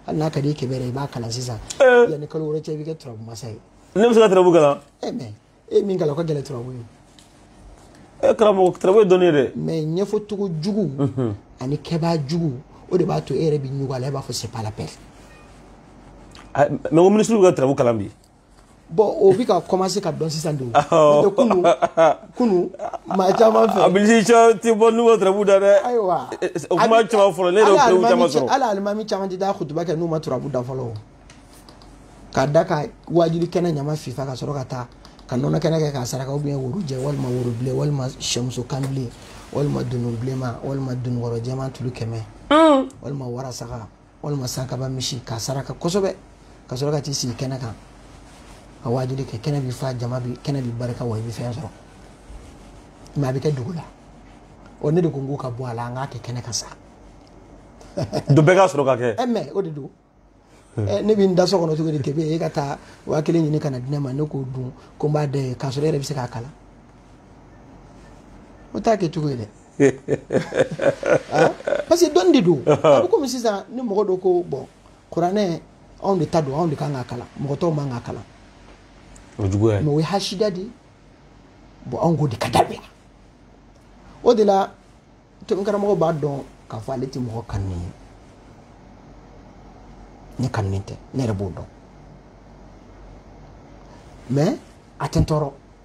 hali n'a ka di i kebe yɛrɛ i b'a kalan sisan eh. yanni kalo wɛrɛ cɛ i bɛ kɛ turabu masa ye ne bɛ se ka turabu kalan e eh, mɛ e ye min kalan o ka gɛlɛn turabu ye e eh, karamɔgɔ turabu ye dɔnni ye dɛ mɛ ɲɛfɔcogo jugu mhm. ani kɛbaa jugu o de b'a to e yɛrɛ bɛ ɲugun a la e b'a fɔ c'est pas la peine mɛ ko minisiriw ka turabu kalan bi bɔn o bɛ ka kɔmanse ka dɔn sisan de o n'o tɛ kunu kunu maa caman fɛ. a bilisi cɛ tɛ bɔ n'u ma turabu da dɛ. ayiwa o kuma caman fɔlɔ ne yɛrɛ y'o preuve caman sɔrɔ. hali alimami caman tɛ taa kutuba kɛ n'u ma turabu da fɔlɔ o ka da ka waajuli kɛnɛ ɲama fifa ka sɔrɔ ka taa ka nɔnɔ kɛnɛ kɛ k'a saraka ou bien woro jɛ walima woro bilen walima sɛmuso kan bilen walima dunun bilenma walima dununkɔrɔ jɛman tulu kɛmɛ walima warasaga. walima sankaba misi k'a saraka kosɛbɛ ka sɔrɔ ka t'i sigi kɛnɛ kan ka waajuli kɛ kɛnɛ bi fa jama bi kɛnɛ bi barika wa i bɛ fɛn sɔrɔ mɛ a bɛ kɛ dogo la ɔ ne de ko n k'u ka bɔ a la an k'a kɛ kɛnɛ kan sa don bɛɛ ka sɔrɔ ka kɛ ɛ mɛ o de don Eh, ne bɛ n da so kɔnɔ cogo di kebe e ka taa waa kelen ɲini ka na di ne ma ne k'o dun ko n b'a da i ye k'a sɔrɔ e yɛrɛ bɛ se k'a kalan o t'a kɛ cogo ye dɛ ah, parce que dɔnni de don a bɛ komi sisan ni mɔgɔ dɔ ko bɔn kuranɛ anw de ta don anw de kan k'a kalan mɔgɔ tɔw man k'a kalan o juguya mɛ o ye hasida de ye bɔn anw k'o de ka dabila o de la tomi karamɔgɔ b'a dɔn k'a fɔ ale tɛ mɔgɔ kanu ye ne kanunen tɛ ne yɛrɛ b'o dɔn mɛ a tɛ n tɔɔrɔ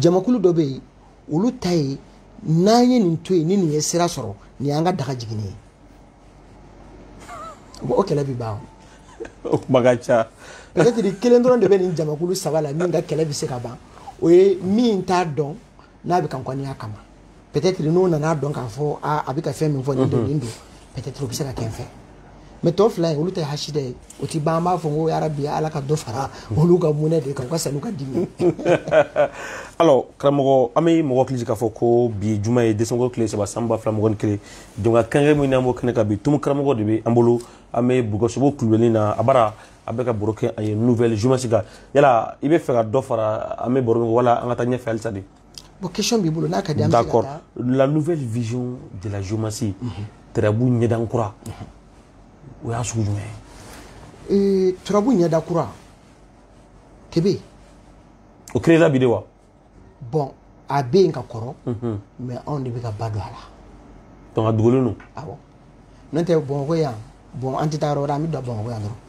jamakulu dɔ bɛ yen olu ta ye n'an ye nin to yen ni nin ye sira sɔrɔ nin y'an ka daga jiginni ye o kɛlɛ bɛ ban o kuma ka ca peut-être kelen dɔrɔn de bɛ nin jamakulu saba la min ka kɛlɛ bɛ se ka ban o ye min t'a dɔn n'a bɛ ka n kɔniya kama peut-être n'o nana dɔn k'a fɔ aa a bɛ ka fɛn min fɔ nin don nin don peut-être o bɛ se ka kɛ n fɛ mɛ tɔ fila ye olu ta ye hasida ye o ti ban an b'a fɔ ko yarabi ala ka dɔ fara olu ka mɔnɛ de kan u ka sa n'u ka dimi alors karamɔgɔ an bɛ mɔgɔ hakili jigin k'a fɔ ko bi juma ye desanburu tile saba san ba fila mugan ni kelen jɛmukan kɛrɛnkɛrɛn min n'an b'o kɛnɛ kan bi tumu karamɔgɔ de bɛ an bolo an bɛ bugɔsogo kulubali na a bara a bɛ ka baro kɛ a ye nouvelle géomancie kan yala i bɛ fɛ ka dɔ fara an bɛ baro min wala an ka taa ɲɛfɛ halisa de bon question b'i bolo n'a ka di an bɛ se ka d'accord taa la nouvelle vision de la géomancie turabu ɲɛda kura o y'a sugu jumɛn ye Ee, turabu ɲɛda kura tebe o créera bi de wa bɔn a bɛ yen ka kɔrɔ mɛ anw de bɛ ka ba don a la donc a dogolen don awɔ n'o tɛ bamakɔ yan bɔn an tɛ taa yɔrɔ wɛrɛ an bɛ to bamakɔ yan dɔrɔn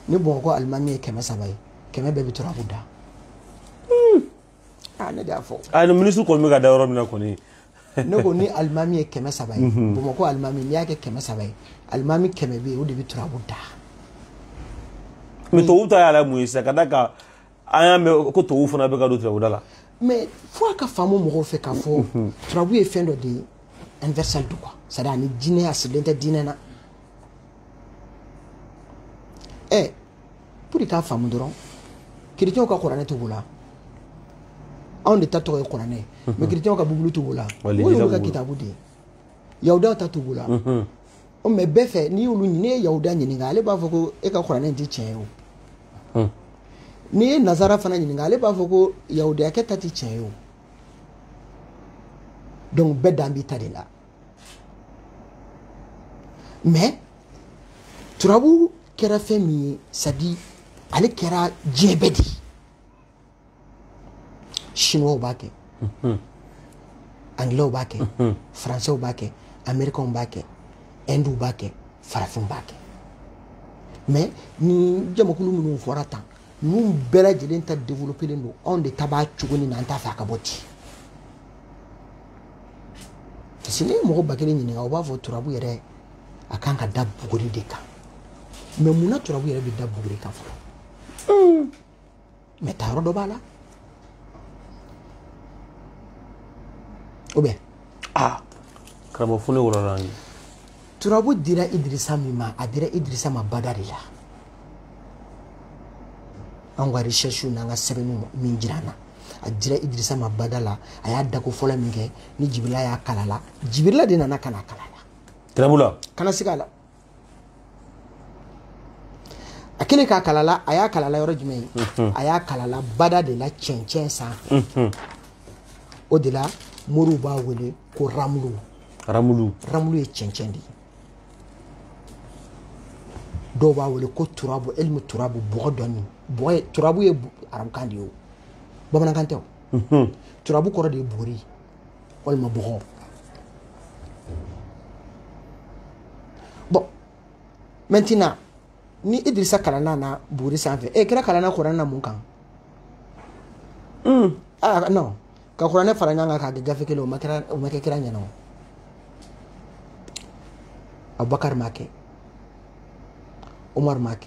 ni bamakɔ alimami ye kɛmɛ saba ye kɛmɛ bɛɛ bɛ turabu da hmm. ah, ne de y'a fɔ a ah, ni minisiri kɔni bɛ ka da yɔrɔ min na kɔni ne ko ni alimami ye kɛmɛ saba ye mhm. bamakɔ alimami n'i y'a kɛ kɛmɛ saba ye alimami kɛmɛ bɛ yen o de bɛ turabu da mɛ tubabu ta y'a la mun ye sisan ka da ka an y'a mɛn ko tubabuw fana bɛ ka don turabuda la mais fo a ka faamu mɔgɔw fɛ k'a fɔ turabu ye fɛn dɔ de ye universel don quoi c'est à dire a ni diinɛ a sirilen tɛ diinɛ na ɛ pour k'a faamu dɔrɔn kiritiyɛnw ka kuranɛ b'u bolo anw de ta tɔgɔ ye kuranɛ ye mais kiritiyɛnw ka bibulu b'u bolo o y'olu ka kitabu de ye yahudaw ta b'u bolo o mɛ bɛɛ fɛ n'i y'olu ɲini n'i ye yahudiya ɲininka ale b'a fɔ ko e ka kuranɛ tɛ tiɲɛ ye o hmm. n'i ye nazara fana ɲininka ale b'a fɔ ko yahudiyakɛ ta tɛ tiɲɛ ye o donc bɛɛ dan b'i ta de la mɛ turabu kɛra fɛn min ye sadi ale kɛra diɲɛ bɛɛ de ye chinois b'a kɛ anglais b'a kɛ français b'a kɛ américain b'a kɛ hindu b'a kɛ farafin b'a kɛ mais ni jamakulu minnu fɔra tan ninnu bɛɛ lajɛlen ta développelen don anw de ta b'a cogo nin na an t'a fɛ a ka bɔ ten parce que n'i ye mɔgɔ ba kelen ɲininka o b'a fɔ turabu yɛrɛ a kan ka da buguri de kan mais mun na turabu yɛrɛ bɛ da buguri kan fɔlɔ mɛ ta yɔrɔ dɔ b'a la ou bien aa karamɔgɔ fo ne wɔlɔla ye turabu dira idirisa min ma a dira idirisa ma bada de la an ka recherche n'an ka sɛbɛnniw min jira an na a dira idirisa ma bada la a y'a dako fɔlɔ min kɛ ni jibirila y'a kalan a la jibirila de nana ka n'a kalan a la turabu la ka na sigi a la a kelen k'a kalan a la a y'a kalan a la yɔrɔ jumɛn ye mhm. a y'a kalan a la bada de la cɛncɛn sanfɛ mhm. o de la moriw b'a wele ko ramulu ramulu ramulu ye cɛncɛn de ye dɔw b'a wele ko turabu elimu turabu bɔgɔ dɔnni bɔgɔ ye turabu ye arabukan de ye o bamanankan tɛ o mhm. turabu kɔrɔ de ye buguri walima bɔgɔ bon maintenant ni idirisa kalanna na buguri sanfɛ e kira kalanna kuranɛ na mun kan un ah non ka kuranɛ fara ɲɔgɔn kan k'a kɛ gafe kelen o ma kɛ kira ɲɛna o abubakar m'a kɛ umar m'a kɛ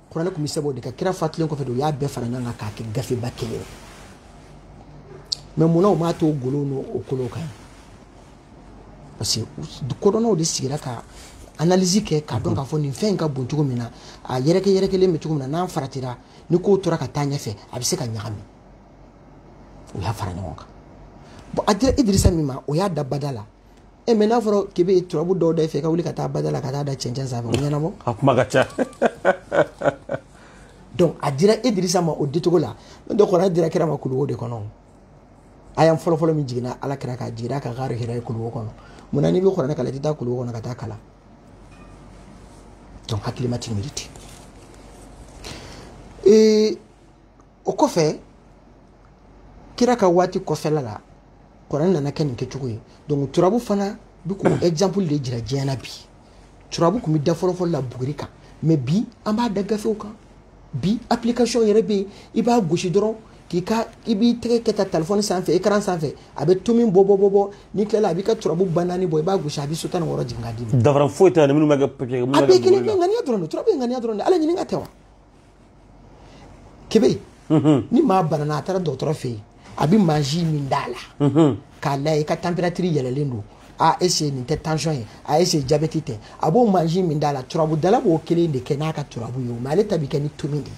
kuranɛ tun bɛ sɛbɛn o de kan kira fatulen kɔfɛ de u y'a bɛɛ fara ɲɔgɔn kan k'a kɛ gafeba kelen ye mais munna u m'a to golo n'o kolo kan parce que kodɔnnaw de sigira ka analyse kɛ k'a dɔn k'a fɔ nin fɛn in ka bon cogo min na a yɛrɛkɛ yɛrɛkɛlen bɛ cogo min na n'an faratira ni kow tora ka taa ɲɛfɛ a bɛ se ka ɲagami u y'a fara ɲɔgɔn kan bon a dira idirisa min ma o y'a da bada la e eh, mais n'a fɔra k'i bɛ turabu dɔw da i fɛ i ka wuli ka taa bada la ka taa da cɛncɛn sanfɛ o ɲɛnabɔ a kuma ka ca donc a dira idirisa ma o dicogo la n'o tɛ kuranɛ dira kira ma kuluwo de kɔnɔ aya fɔlɔfɔlɔ min jiginna ala kira kan a jigira a kan gari hira ye kuluwo kɔnɔ munna n'i bɛ kuranɛ kalan i tɛ taa kuluwo kɔnɔ ka taa kalan donc hakilima ti miiri ten ee o kɔfɛ kira ka waati kɔfɛla la kuranɛ nana kɛ nin kɛcogo ye donc turabu fana bɛ k'o exemple de jira diɲɛ na bi turabu tun bɛ da fɔlɔfɔlɔ la buguri kan mais bi an b'a da gafew kan bi application yɛrɛ bɛ yen i b'a gosi dɔrɔn k'i ka i b'i tɛgɛ kɛ tan telefɔni sanfɛ écran sanfɛ a bɛ tomi bɔ bɔ bɔ bɔ n'i tilala a b'i ka turabu ba naani bɔ i b'a gosi a bɛ so tan ni wɔɔrɔ jigin k'a d'i ma. danfara foyi t'a ni minnu bɛ kɛ papiye. a bɛɛ kelen bɛ ŋaniya dɔrɔn de turabu ye ŋaniya dɔrɔn de ala ɲininka tɛ wa. kebe mhm. ni maa banana a taara dɔgɔtɔrɔ fɛ yen a bɛ mansin min d'a la mhm. k'a layɛ i ka température yɛlɛlen don est-ce nin tɛ tension ye est-ce jabɛti tɛ a b'o mansin min d'a la turabudala b'o kelen de kɛ n'a ka turabu ye mais ale ta bɛ kɛ ni tomi de ye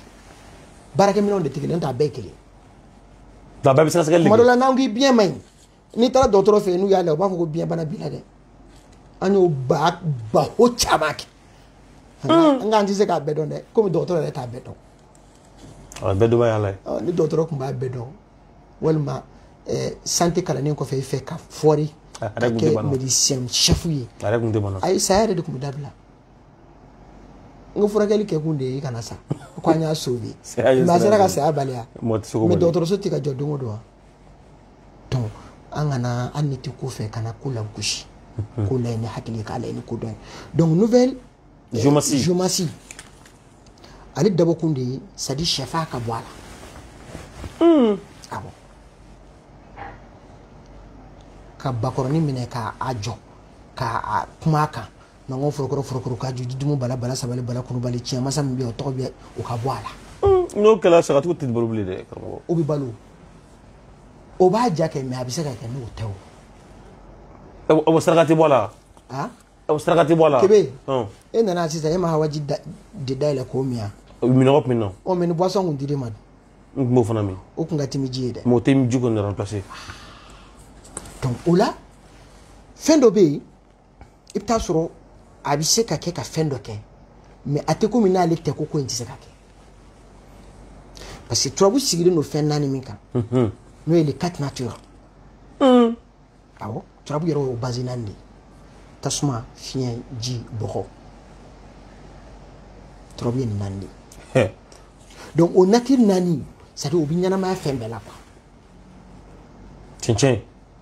baarakɛminɛnw de tɛ kelen t'a bɛɛ kelen tuma dɔ la n'an k'i biɲɛ man ɲi n'i taara dɔgɔtɔrɔ fɛ yen n'u y'a lajɛ u b'a fɔ ko biyɛnbana b'i la dɛ an y'o ba baro caman kɛ an k'an tɛ se k'a bɛɛ dɔn dɛ komi dɔgɔtɔrɔ yɛrɛ t'a bɛɛ dɔn a bɛɛ dɔba y'a la ni dɔgɔtɔrɔ tun b'a bɛɛ dɔn walima santé kalannen kɔfɛ i fɛ ka fɔri ka kɛ médecin chef ye a yɛrɛ tun tɛ bana ayi saya yɛrɛ de tun bɛ dabila n ko furakɛli kɛ kun de ye i kana sa ko an y'a sauvé mais a sera ka saya baliya mais dɔgɔtɔrɔso tɛ ka jɔ don o don wa donc an kana hali n'i tɛ ko fɛ kana ko lagosi ko layɛ ni hakili k'a layɛ ni kodɔn ye donc nouvelle géomancie ale dabɔkun de ye c'est-à-dire shɛfaa ka bɔ a la awɔ ka bakɔrɔni minɛ k'a jɔ ka kuma a kan mango forokɔrɔ forokɔrɔ ka ju dumu bala bala sabali bala kulubali tiɲɛ masa min bɛ yan o tɔgɔ bɛ o ka bɔ a la n'o kɛra sagatigiw tɛ balo bilen dɛ karamɔgɔ o bɛ balo o b'a ja kɛ mais a bɛ se ka kɛ n'o tɛ o o saraka tɛ bɔ a la a o saraka tɛ bɔ a la kebe e nana sisan e ma hawaji de dayɛlɛ k'o min yan minnɔgɔ tun bɛ n na ɔ mais ni boisson tun dir'e ma dun n tun b'o fana min o tun ka timi ji ye dɛ mais o tɛ ji kɔni remplacer donc o la fɛn dɔ bɛ yen i bɛ taa sɔrɔ a bɛ se ka kɛ ka fɛn dɔ kɛ mais a tɛ komi n'ale tɛ ko ko in tɛ se ka kɛ parce que turabu sigilen don fɛn naani min kan n'o ye les quatre natures awɔ turabu yɛrɛ y'o base naani de ye tasuma fiɲɛ ji bɔgɔ turabu ye nin naani de ye donc o nature naani c'est à dire o bɛ ɲɛnamaya fɛn bɛɛ la quoi cɛncɛn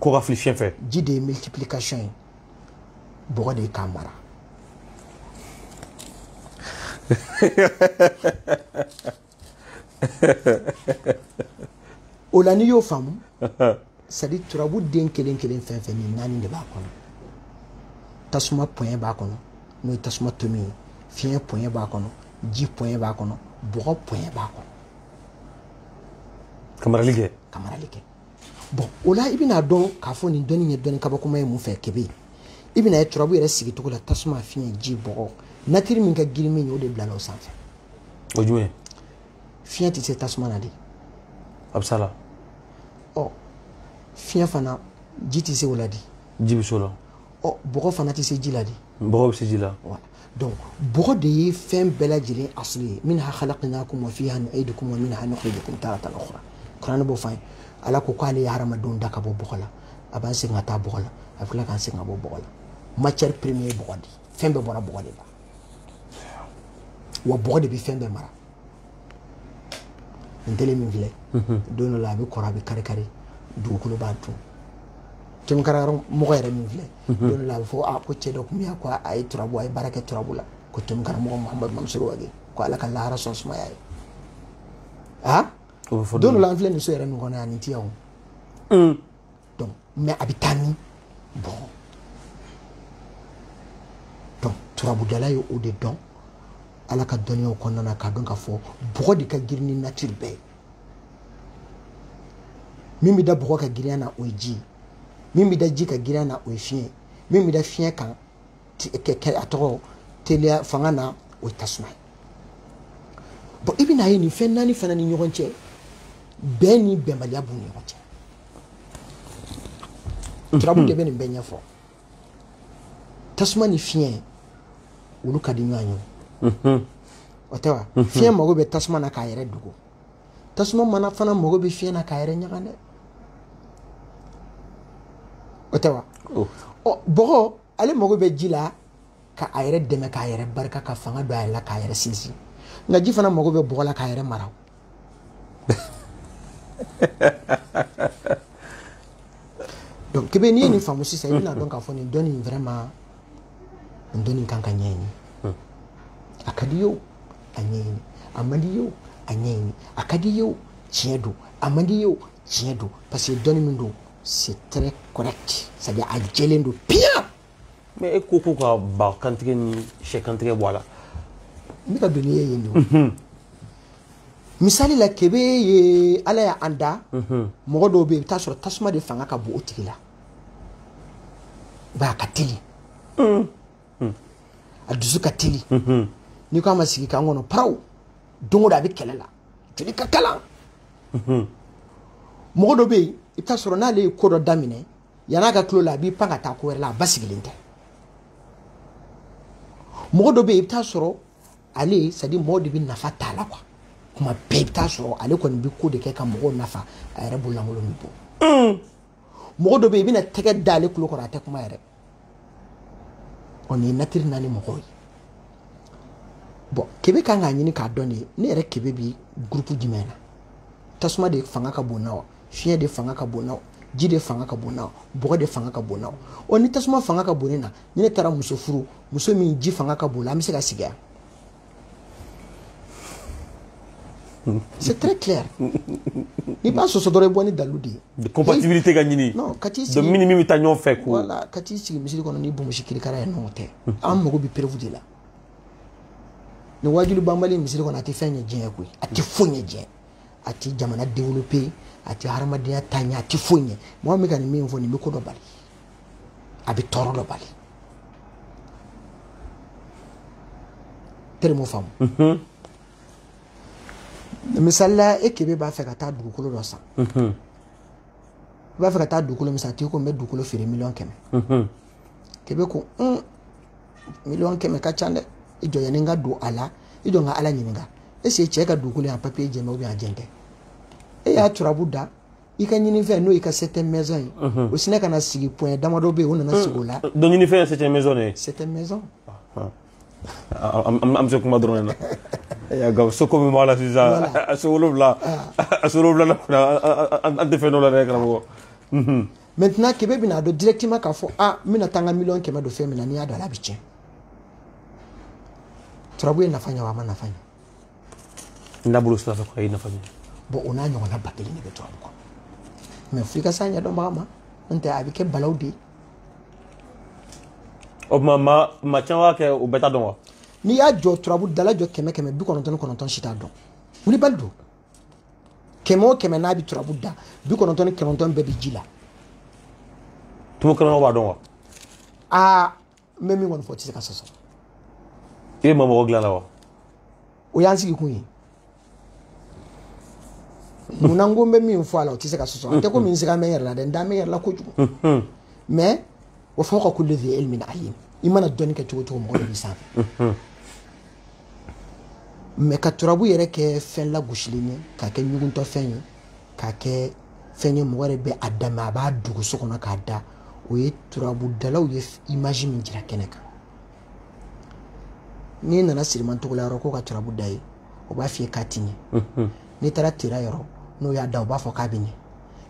ko ka fili fiɲɛ fɛ ji de ye multiplication ye bɔgɔ de ye k'a mara o la n'i y'o faamu c'est à dire turabu den kelen kelen fɛn fɛn nin naani de b'a kɔnɔ tasuma point b'a kɔnɔ n'o ye tasuma tomi ye fiɲɛ point b'a kɔnɔ ji point b'a kɔnɔ bɔgɔ point b'a kɔnɔ ka marali kɛ ka marali kɛ bon o la i bɛna dɔn k'a fɔ nin dɔnni ye dɔnni kabakoma ye mun fɛ kebe i bɛna ye turabu yɛrɛ sigicogo la tasuma fiɲɛ ji bɔgɔ nature min ka girin min ye o de bilala o sanfɛ o jumɛn fiɲɛ tɛ se tasuma na de a bɛ s'a la ɔ fiɲɛ fana ji tɛ se o la de ji bɛ se o la ɔ bɔgɔ fana tɛ se ji la de bɔgɔ bɛ se ji la donc bɔgɔ de ye fɛn bɛɛ lajɛlen asili ye minha khalaqnakum wa fiha nu'idukum wa minha nukhrijukum taratan ukhra kuranɛ b'o fɔ an ye ala ko k'ale ye hadamadenw da ka bɔ bɔgɔ la a b'an segin ka taa bɔgɔ la a bɛ tila k'an segin ka bɔ bɔgɔ la matière première ye bɔgɔ de fɛn bɛɛ bɔra bɔgɔ de la wa bɔgɔ de bɛ fɛn bɛɛ mara nin tele min filɛ don dɔ la a bɛ kɔrɔ a bɛ kari kari dugukolo b'a dun tomi karamɔgɔ yɛrɛ min filɛ mhm. don dɔ la a bɛ fɔ a ko cɛ dɔ tun bɛ yan ko a ye turabu a ye baara kɛ turabu la ko tomi karamɔgɔ muhamadu mamusoro wage ko ala ka lahara so sumaya a ye a don dɔ la an filɛ nin so yɛrɛ min kɔnɔ yan nin tɛ yan o mm. donc mais a bɛ taa min bɔgɔ donc turabudala ye o de dɔn ala ka dɔnniyaw kɔnɔna na k'a dɔn k'a fɔ bɔgɔ de ka girin ni nature bɛɛ ye min bɛ da bɔgɔ kan girinya na o ye ji ye min bɛ da ji ka girin na o ye fiɲɛ min bɛ da fiɲɛ kan kɛ a tɔgɔ teliya fanga na o ye tasuma ye bon i bɛna ye nin fɛn naani fana ni ɲɔgɔn cɛ bɛn ni bɛnbaliya b'u ni ɲɔgɔn cɛ turabu de bɛ nin bɛɛ ɲɛfɔ tasuma ni fiɲɛ olu ka di ɲɔgɔn ye o tɛ wa fiɲɛ mago bɛ tasuma na k'a yɛrɛ dogo tasuma mana fana mago bɛ fiɲɛ na k'a yɛrɛ ɲaga dɛ o tɛ wa oh. ɔ bɔgɔ ale mago bɛ ji la ka a yɛrɛ dɛmɛ k'a yɛrɛ barika ka fanga don a yɛrɛ la k'a yɛrɛ sinsin nka ji fana mago bɛ bɔgɔ la k'a yɛrɛ mara donc kebe n'i ye nin faamu sisan i bɛna dɔn k'a fɔ nin dɔnni in vraiment nin dɔnni kan ka ɲɛɲini a ka di ye o a ɲɛɲini a man di ye o a ɲɛɲini a ka di ye o tiɲɛ don a man di ye o tiɲɛ don parce que dɔnni min don c'est très correct c'est à dire a jɛlen don piyan. mais e ko ko ka ba kantigɛ ni sɛ kantigɛ bɔ a la. ne ka doni ye yen de o. misali la kebe ye ala y'an da mɔgɔ dɔw bɛ yen i bɛ t'a sɔrɔ tasuma de fanga ka bon o tigi la i b'a ka teli. hmm. a dusu ka teli hmm. n'i ko a ma sigi k'an kɔnɔ paraw don o don a bɛ kɛlɛ la joli ka kalan hmm. mɔgɔ dɔ bɛ yen i bɛ taa sɔrɔ n'ale ye ko dɔ daminɛ yann'a ka til'o la a b'i pan ka taa ko wɛrɛ la a basigilen tɛ mɔgɔ dɔ bɛ yen i bɛ taa sɔrɔ ale c'est à dire mɔgɔw de bɛ nafa t'a la quoi kuma bɛɛ i bɛ taa sɔrɔ ale kɔni bɛ ko de kɛ ka mɔgɔw nafa a yɛrɛ bololankolon bɛ bɔ. mɔgɔ dɔ bɛ yen i bɛna tɛgɛ da ale kulo kɔrɔ a tɛ kuma yɛrɛ ɔ nin ye natiri naani mɔgɔw ye bon kebe kan k'a ɲini k'a dɔn de ne yɛrɛ kebe bi gurupu jumɛn na tasuma de fanga ka bon na wa fiɲɛ de fanga ka bon na wa ji de fanga ka bon na wa bɔgɔ de fanga ka bon na wa ɔ ni tasuma fanga ka bon ne na ni ne taara muso furu muso min ji fanga ka bon a la an bɛ se ka sigi yan C'est très clair. N'i b'a sɔsɔ dɔrɔn i bɔ ni dalu de ye. De compatibilité ka ɲini. Non ka t'i sigi. Donc min ni min bɛ taa ɲɔgɔn fɛ ko. Voilà ka t'i sigi misiri kɔnɔ n'i bonbonsi kirikara ye n'o tɛ. An mago bɛ preuve de la. Nin waajuli banbali misiri kɔnɔ a tɛ fɛn ɲɛ diɲɛ koyi a tɛ foyi ɲɛ diɲɛ a tɛ jamana développer a tɛ hadamadenya taa ɲɛ a tɛ foyi ɲɛ mɔgɔ min ka nin min fɔ nin bɛ ko dɔ bali. a bɛ tɔɔrɔ dɔ bali tɛrɛ m'o faamu mhm. misali la e kebe b'a fɛ ka taa dugukolo dɔ san mhm. i b'a fɛ ka taa dugukolo min san tigi ko n bɛ dugukolo feere miliyɔn kɛmɛ mhm. kebe ko un miliyɔn kɛmɛ ka ca dɛ i jɔ yanni n ka don a la i jɔ n ka ala ɲininka est-ce que cɛ ka dugukolo y'a papier jɛlen bɛ ou bien a jɛlen tɛ e y'a turabu da i ka ɲinifɛn n'o y'i ka septième maison ye o sinɛ ka na sigi point damadɔ bɛ yen o nana sigi o la donc ɲinifɛn ye septième maison de ye septième maison an bɛ so kuma dɔrɔn de la nka so ko min b'a la sisan a so wolonwula a so wolonwula la kɔni an tɛ fɛn dɔn a la dɛ karamɔgɔ maintenant kebe bɛna a dɔn directement k'a fɔ a n bɛna taa n ka miliyɔn kɛmɛ don fɛn min na n'i y'a don a la a bɛ tiɲɛ turabu ye nafa ɲɛ wa a ma nafa ɲɛ n'a bolo sira fɛ ko a ye nafa ɲɛ bon o n'a ɲɔgɔnna ba kelen de bɛ turabu kɔnɔ mais f'i ka s'a ɲɛdɔnbaga ma n'o tɛ a bɛ kɛ balawu de ye o tuma maa caman b'a kɛ o bɛɛ t'a dɔn wa n'i y'a jɔ turabudala jɔ kɛmɛ kɛmɛ bi kɔnɔntɔn ni kɔnɔntɔn si t'a dɔn wulibali don kɛmɛ o kɛmɛ n'a bɛ turabu da bi kɔnɔntɔn ni kɔnɔntɔn bɛɛ bɛ ji la tumu kɛnɛma b'a dɔn wa aa n bɛ min kɔni fɔ o tɛ se ka sɔsɔ e ma mɔgɔ dilanna wa o y'an sigi kun ye munna n ko n bɛ min fɔ a la o tɛ se ka sɔsɔ a tɛ komi n sigalen bɛ n yɛrɛ la dɛ n dalen bɛ n yɛrɛ la kojugu mais wa fawqa kulli dhi ilmin alim i mana dɔnni kɛ cogo cogo mɔgɔ dɔ b'i sanfɛ mais ka turabu yɛrɛ kɛ fɛn lagosilen ye k'a kɛ ɲuguntɔfɛn ye k'a kɛ fɛn ye mɔgɔ yɛrɛ bɛ a dama a b'a dogo so kɔnɔ k'a da o ye turabudalaw ye image min jira kɛnɛ kan n'i nana siriman togola yɔrɔ k'o ka turabu da i ye o b'a f'i ye k'a tɛ ɲɛ n'i taara tera yɔrɔ n'o y'a da o b'a fɔ k'a bɛ ɲɛ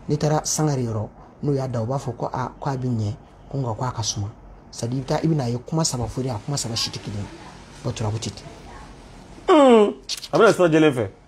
n'i taara sangare yɔrɔ n'o y'a da o b'a fɔ ko a ko a bɛ ɲɛ ko nka ko a ka suma c'est à dire i bɛ taa i bɛna a ye kuma saba fɔ de a kuma saba si tɛ kelen ye o turabu tɛ ten a bɛna sira jɛlen fɛ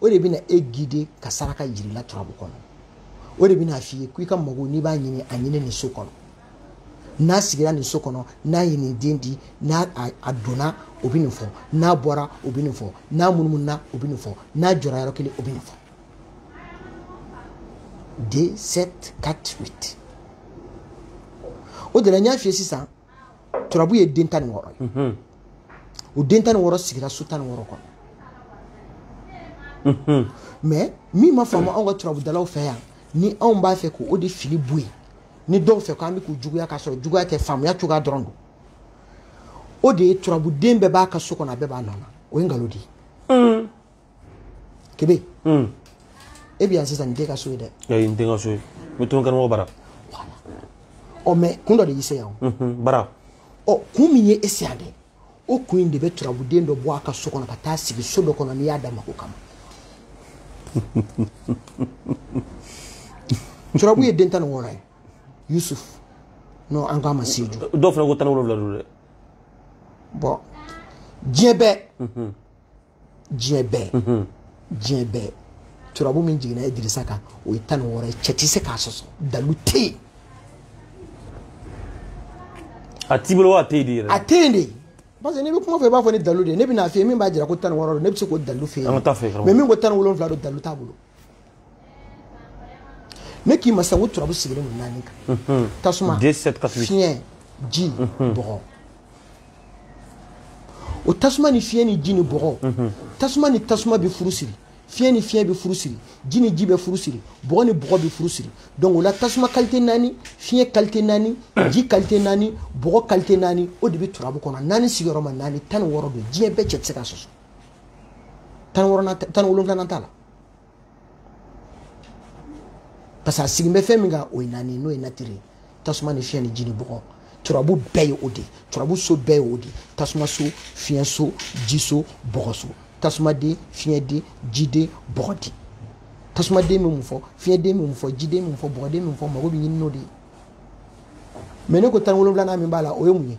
o de bɛna e guider ka saraka jira i la turabu kɔnɔ o de bɛna f'i ye ko i ka mago n'i b'a ɲini a ɲini nin so kɔnɔ n'a sigira nin so kɔnɔ n'a ye nin den di n'a a donna o bɛ nin fɔ n'a bɔra o bɛ nin fɔ n'a munumununa o bɛ nin fɔ n'a jɔra yɔrɔ kelen o bɛ nin fɔ deux sept quatre huit o de la n y'a f'i ye sisan turabu ye den tan ni wɔɔrɔ ye mhm. o den tan ni wɔɔrɔ sigira so tan ni wɔɔrɔ kɔnɔ mhm. mais min ma faamu anw ka turabudalaw fɛ yan ni anw b'a fɛ k'o de fili bɔ yen ni dɔw fɛ k'an bɛ k'u juguya k'a sɔrɔ juguya tɛ faamuya cogoya dɔrɔn don o de ye turabuden bɛɛ b'a ka so kɔnɔ a bɛɛ b'a nɔ na o ye nkalon de ye kebe hmm. e bɛ yan sisan nin t'e ka so ye dɛ ayi n tɛ n ka so ye n bɛ to n karamɔgɔ bara ɔ mais kun dɔ de y'i se yan o bara ɔ kun min ye e se yan dɛ o kun in de bɛ turabuden dɔ bɔ a ka so kɔnɔ ka taa sigi so dɔ kɔnɔ n'i y'a da mako kama turabu ye den tan ni wɔɔrɔ ye yusuf n'o an k'a ma seju dɔw fana ko tan ni wolonwula don dɛ bon diɲɛ bɛɛ diɲɛ bɛɛ mhm. diɲɛ bɛɛ turabu min jiginna idirisa kan o ye tan ni wɔɔrɔ ye cɛ tɛ se k'a sɔsɔ dalu tɛ yen a t'i bolo wa a tɛ yen de yɛrɛ a tɛ yen de parce que n'i bɛ kuma fɔ i b'a fɔ ni dalu de ye ne bɛn'a f'i ye min b'a jira ko tan ni wɔɔrɔ don ne bɛ se k'o dalu f'i ye mais min ko tan ni wolonwula don dalu t'a bolo ne k'i ma sisan ko turabu sigilen don naani kan tasuma fiɲɛ ji bɔgɔ o tasuma ni fiɲɛ ni ji ni bɔgɔ tasuma ni tasuma bɛ furu siri fiɲɛ ni fiɲɛ bɛ furu siri ji ni ji bɛ furu siri bɔgɔ ni bɔgɔ bɛ furu siri donc o la tasuma qualité naani fiɲɛ qualité naani ji qualité naani bɔgɔ qualité naani o de bɛ turabu kɔnɔ naani sigiyɔrɔma naani tan ni wɔɔrɔ don diɲɛ bɛɛ cɛ tɛ se k'a sɔsɔ tan ni wɔɔrɔnan tan ni wolonwulanan t'a la parce que a sigin bɛ fɛn min kan o ye naani n'o ye nature ye tasuma ni fiɲɛ ni ji ni bɔgɔ turabu bɛɛ ye o de ye turabu so bɛɛ ye o de ye tasuma so fiɲɛ so ji so bɔgɔ so tasumaden fiɲɛden jiden bɔgɔden tasumaden bɛ mun fɔ fiɲɛden bɛ mun fɔ jiden bɛ mun fɔ bɔgɔden bɛ mun fɔ mago bɛ ɲini n'o de ye mais ne ko tan ni wolonwulanan min b'a la o ye mun ye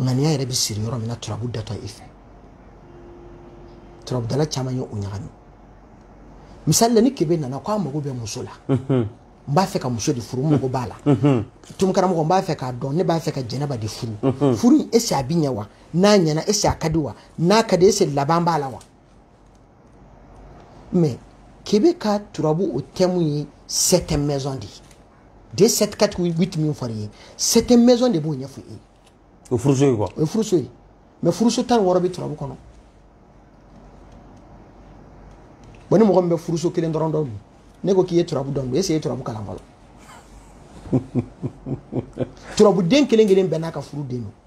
ŋaniya yɛrɛ bɛ siri yɔrɔ min na turabu datɔ i fɛ turabudala caman ye o ɲagami misali la ni kebe nana ko a mago bɛ muso la n b'a fɛ ka muso de furu n mago b'a la tun karamɔgɔ n b'a fɛ k'a dɔn ne b'a fɛ ka jɛnɛba de furu furu in est ce a bi ɲɛ wa n'a ɲɛna est ce a ka di wa n'a ka di est ce laban b'a la wa mais kebe ka turabu o thème ye sept maison de ye de sept quatre huit min fɔra i ye sept maison de b'o ɲɛfɔ i ye o furuso ye quoi o ye furuso ye mais furuso tan ni wɔɔrɔ bɛ turabu kɔnɔ bon ni mɔgɔ min bɛ furuso kelen dɔrɔn dɔn dun ne ko k'i ye turabu dɔn dun est ce que i ye turabu kalan fɔlɔ turabuden kelen kelen bɛɛ n'a ka furu den don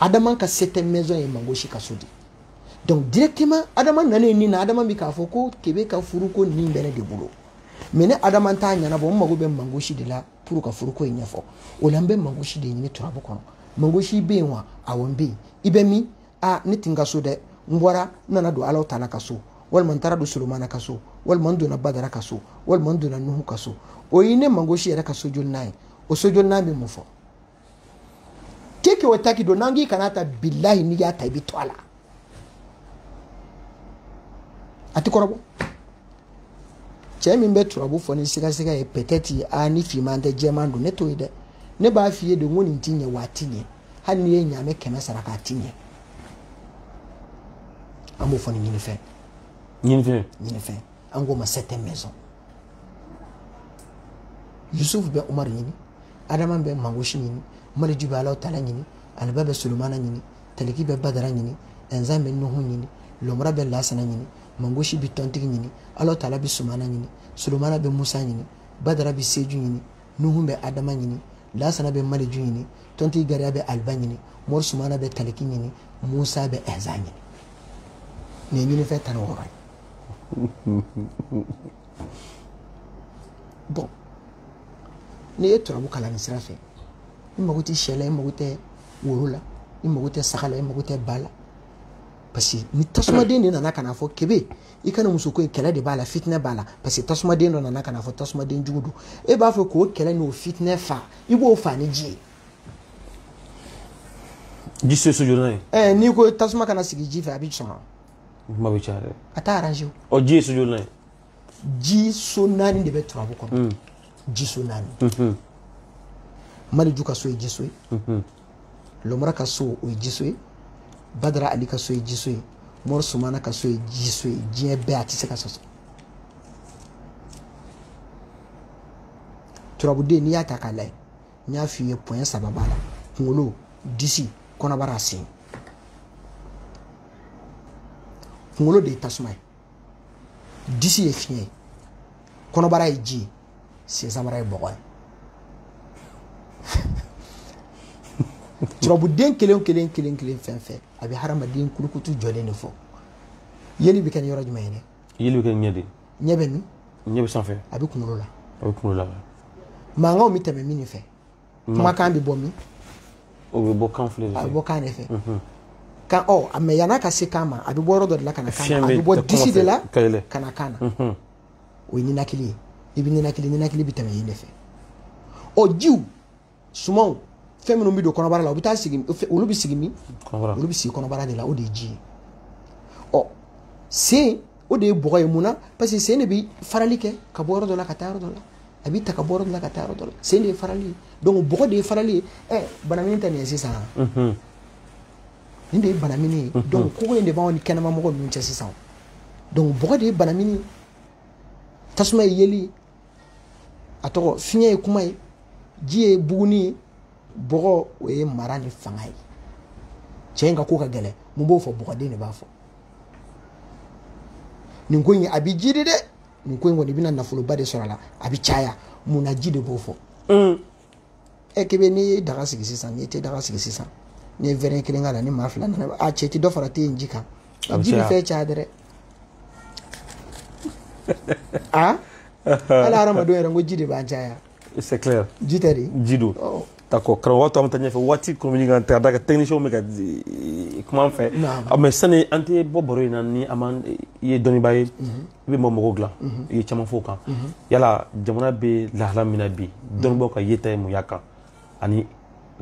adama ka sept maison ye mangosi ka so di donc directement adama nalen nin na adama bɛ k'a fɔ ko kebe ka furuko nin bɛ ne de bolo mais ne adama t'a ɲɛnabɔ n mago bɛ mangosi de la pour ka furuko in ɲɛfɔ o la n bɛ mangosi de ɲini turabu kɔnɔ mangosi bɛ yen wa awɔ n bɛ yen i bɛ min a ne tɛ n ka so dɛ n bɔra n nana don alahu taala ka so walima n taara don solomana ka so walima n donna badara ka so walima n donna nuhu ka so o ye ne mangosi yɛrɛ ka sojolinan ye o sojolinan bɛ mun fɔ keke o taki don n'an k'i kan'a ta bilahi n'i y'a ta i bɛ to a la a ti kɔrɔbɔ cɛ min bɛ turabu fɔ ni sigasiga ye peut-être ni finman tɛ jɛman don ne t'o ye dɛ ne b'a f'i ye de ko nin ti ɲɛ wa a ti ɲɛ hali n'i ye ɲaamɛ kɛmɛ sara k'a ti ɲɛ an b'o fɔ ni ɲinifɛn ɲinifɛn ɲinifɛn an k'o ma sept maison yusufu bɛ umaru ɲini adama bɛ mangosi ɲini maliju bɛ alaw tala ɲini aliba bɛ solomana ɲini taliki bɛ badara ɲini ɛnzan bɛ nuhu ɲini lɔmura bɛ lasana ɲini mangosi bɛ tɔntigi ɲini alaw tala bɛ sumana ɲini solomana bɛ musa ɲini badara bɛ seju ɲini nuhu bɛ adama ɲini lasana bɛ maliju ɲini tɔntigi gariya bɛ aliba ɲini mori sumana bɛ taliki ɲini musa bɛ ɛnzan ɲini nin ye ɲinifɛn tan ni wɔɔrɔ ye bon n'i ye turabu kalan nin sira fɛ i mago tɛ syɛ la i mago tɛ woro la i mago tɛ saga la i mago tɛ ba la parce que ni tasumaden de nana ka n'a fɔ kebe i ka nin muso ko in kɛlɛ de b'a la fitinɛ b'a la parce que tasumaden dɔ nana ka n'a fɔ tasumaden jugu don e b'a fɔ k'o kɛlɛ n'o fitinɛ fa i b'o fa ni ji ye ji so so jolinan ye ɛɛ n'i ko tasuma ka na sigi ji fɛ a bɛ sɔn kuma bɛ caya dɛ a t'a arrange o ɔ ji ye so jolinan ye ji so naani de bɛ turabu kɔnɔ mm. ji so naani mm-hmm. maliju ka so ye ji so ye mm-hmm. lomara ka so o ye ji so ye badara ali ka so ye ji so ye mɔri sumana ka so ye ji so ye diɲɛ bɛɛ a tɛ se ka sɔsɔ turabuden n'i y'a ta k'a lajɛ n y'a f'i ye point saba b'a la kunkolo disi kɔnɔbara sen kunkolo de ye tasuma ye disi ye fiɲɛ ye kɔnɔbara ye ji ye sensanbara ye bɔgɔ ye turabuden kelen kelen kelen kelen fɛn fɛn a bɛ hadamaden kulukutu jɔlen de fɔ yeli bɛ kɛ ni yɔrɔ jumɛn ye dɛ yeli bɛ kɛ ɲɛ de ɲɛ bɛ min ɲɛ bɛ sanfɛ a bɛ kunkolo la a bɛ kunkolo la mankanw bɛ tɛmɛ min fɛ kumakan bɛ bɔ min o bɛ bɔ kan filɛ de fɛ a bɛ bɔ kan de fɛ kan ɔ a mais yan'a ka se kan ma a bɛ bɔ yɔrɔ dɔ de la ka na kan na a bɛ bɔ disi de la ka na kan na o ye ninakili ye i bɛ ninakili ninakili bɛ tɛmɛ yen de fɛ ɔ jiw sumanw fɛn minnu bɛ don kɔnɔbara la u bɛ taa sigi olu bɛ sigi min olu bɛ sigi kɔnɔbara de la o de ye ji ye ɔ sen o de ye bɔgɔ ye mun na parce que sen de bɛ farali kɛ ka bɔ yɔrɔ dɔ la ka taa yɔrɔ dɔ la a b'i ta ka bɔ yɔrɔ dɔ la ka taa yɔrɔ dɔ la sen de ye farali ye donc bɔgɔ de ye farali ye ɛ banamini tɛ nin ye sisan nin de ye banamini ye donc kogo in de b'anw ni kɛnɛma mɔgɔ ninnu cɛ sisan donc bɔgɔ de ye banamini ye tasuma ye yeli ye a tɔgɔ fiɲɛ ye kuma ye ji ye buguni ye bɔgɔ o ye mara ni fanga ye cɛ in ka ko ka gɛlɛn mun b'o fɔ bɔgɔden de b'a fɔ nin ko in a bɛ jiidi dɛ nin ko in kɔni i bɛna nafoloba de sɔrɔ a la a bɛ caya mun na ji de b'o fɔ mm. ɛ kebe n'i ye daga sigi sisan n'i te daga sigi sisan n'i ye verre kelen k'a la ni maa fila nana a cɛ ti dɔ fara te yen ji kan ji bɛ fɛn caya dɛrɛ hali hadamadenw yɛrɛ n ko ji de b'an caya c'est clair ji tɛ de ji don oh. d'accord karamɔgɔ tɔ an bɛ taa ɲɛfɛ waati kɔnɔ ɲini ka taa da ka technicien bɛ ka eh, kuma an fɛ ah, mais sani an tɛ bɔ baro in na ni an man eh, i ye dɔnnibaa ye mhm. i bɛ mɔgɔ mɔgɔw dilan mhm. i ye caman fɔ o kan mhm. yala jamana bɛ lahala min na bi dɔnnibaaw ka yeta ye mun y'a kan ani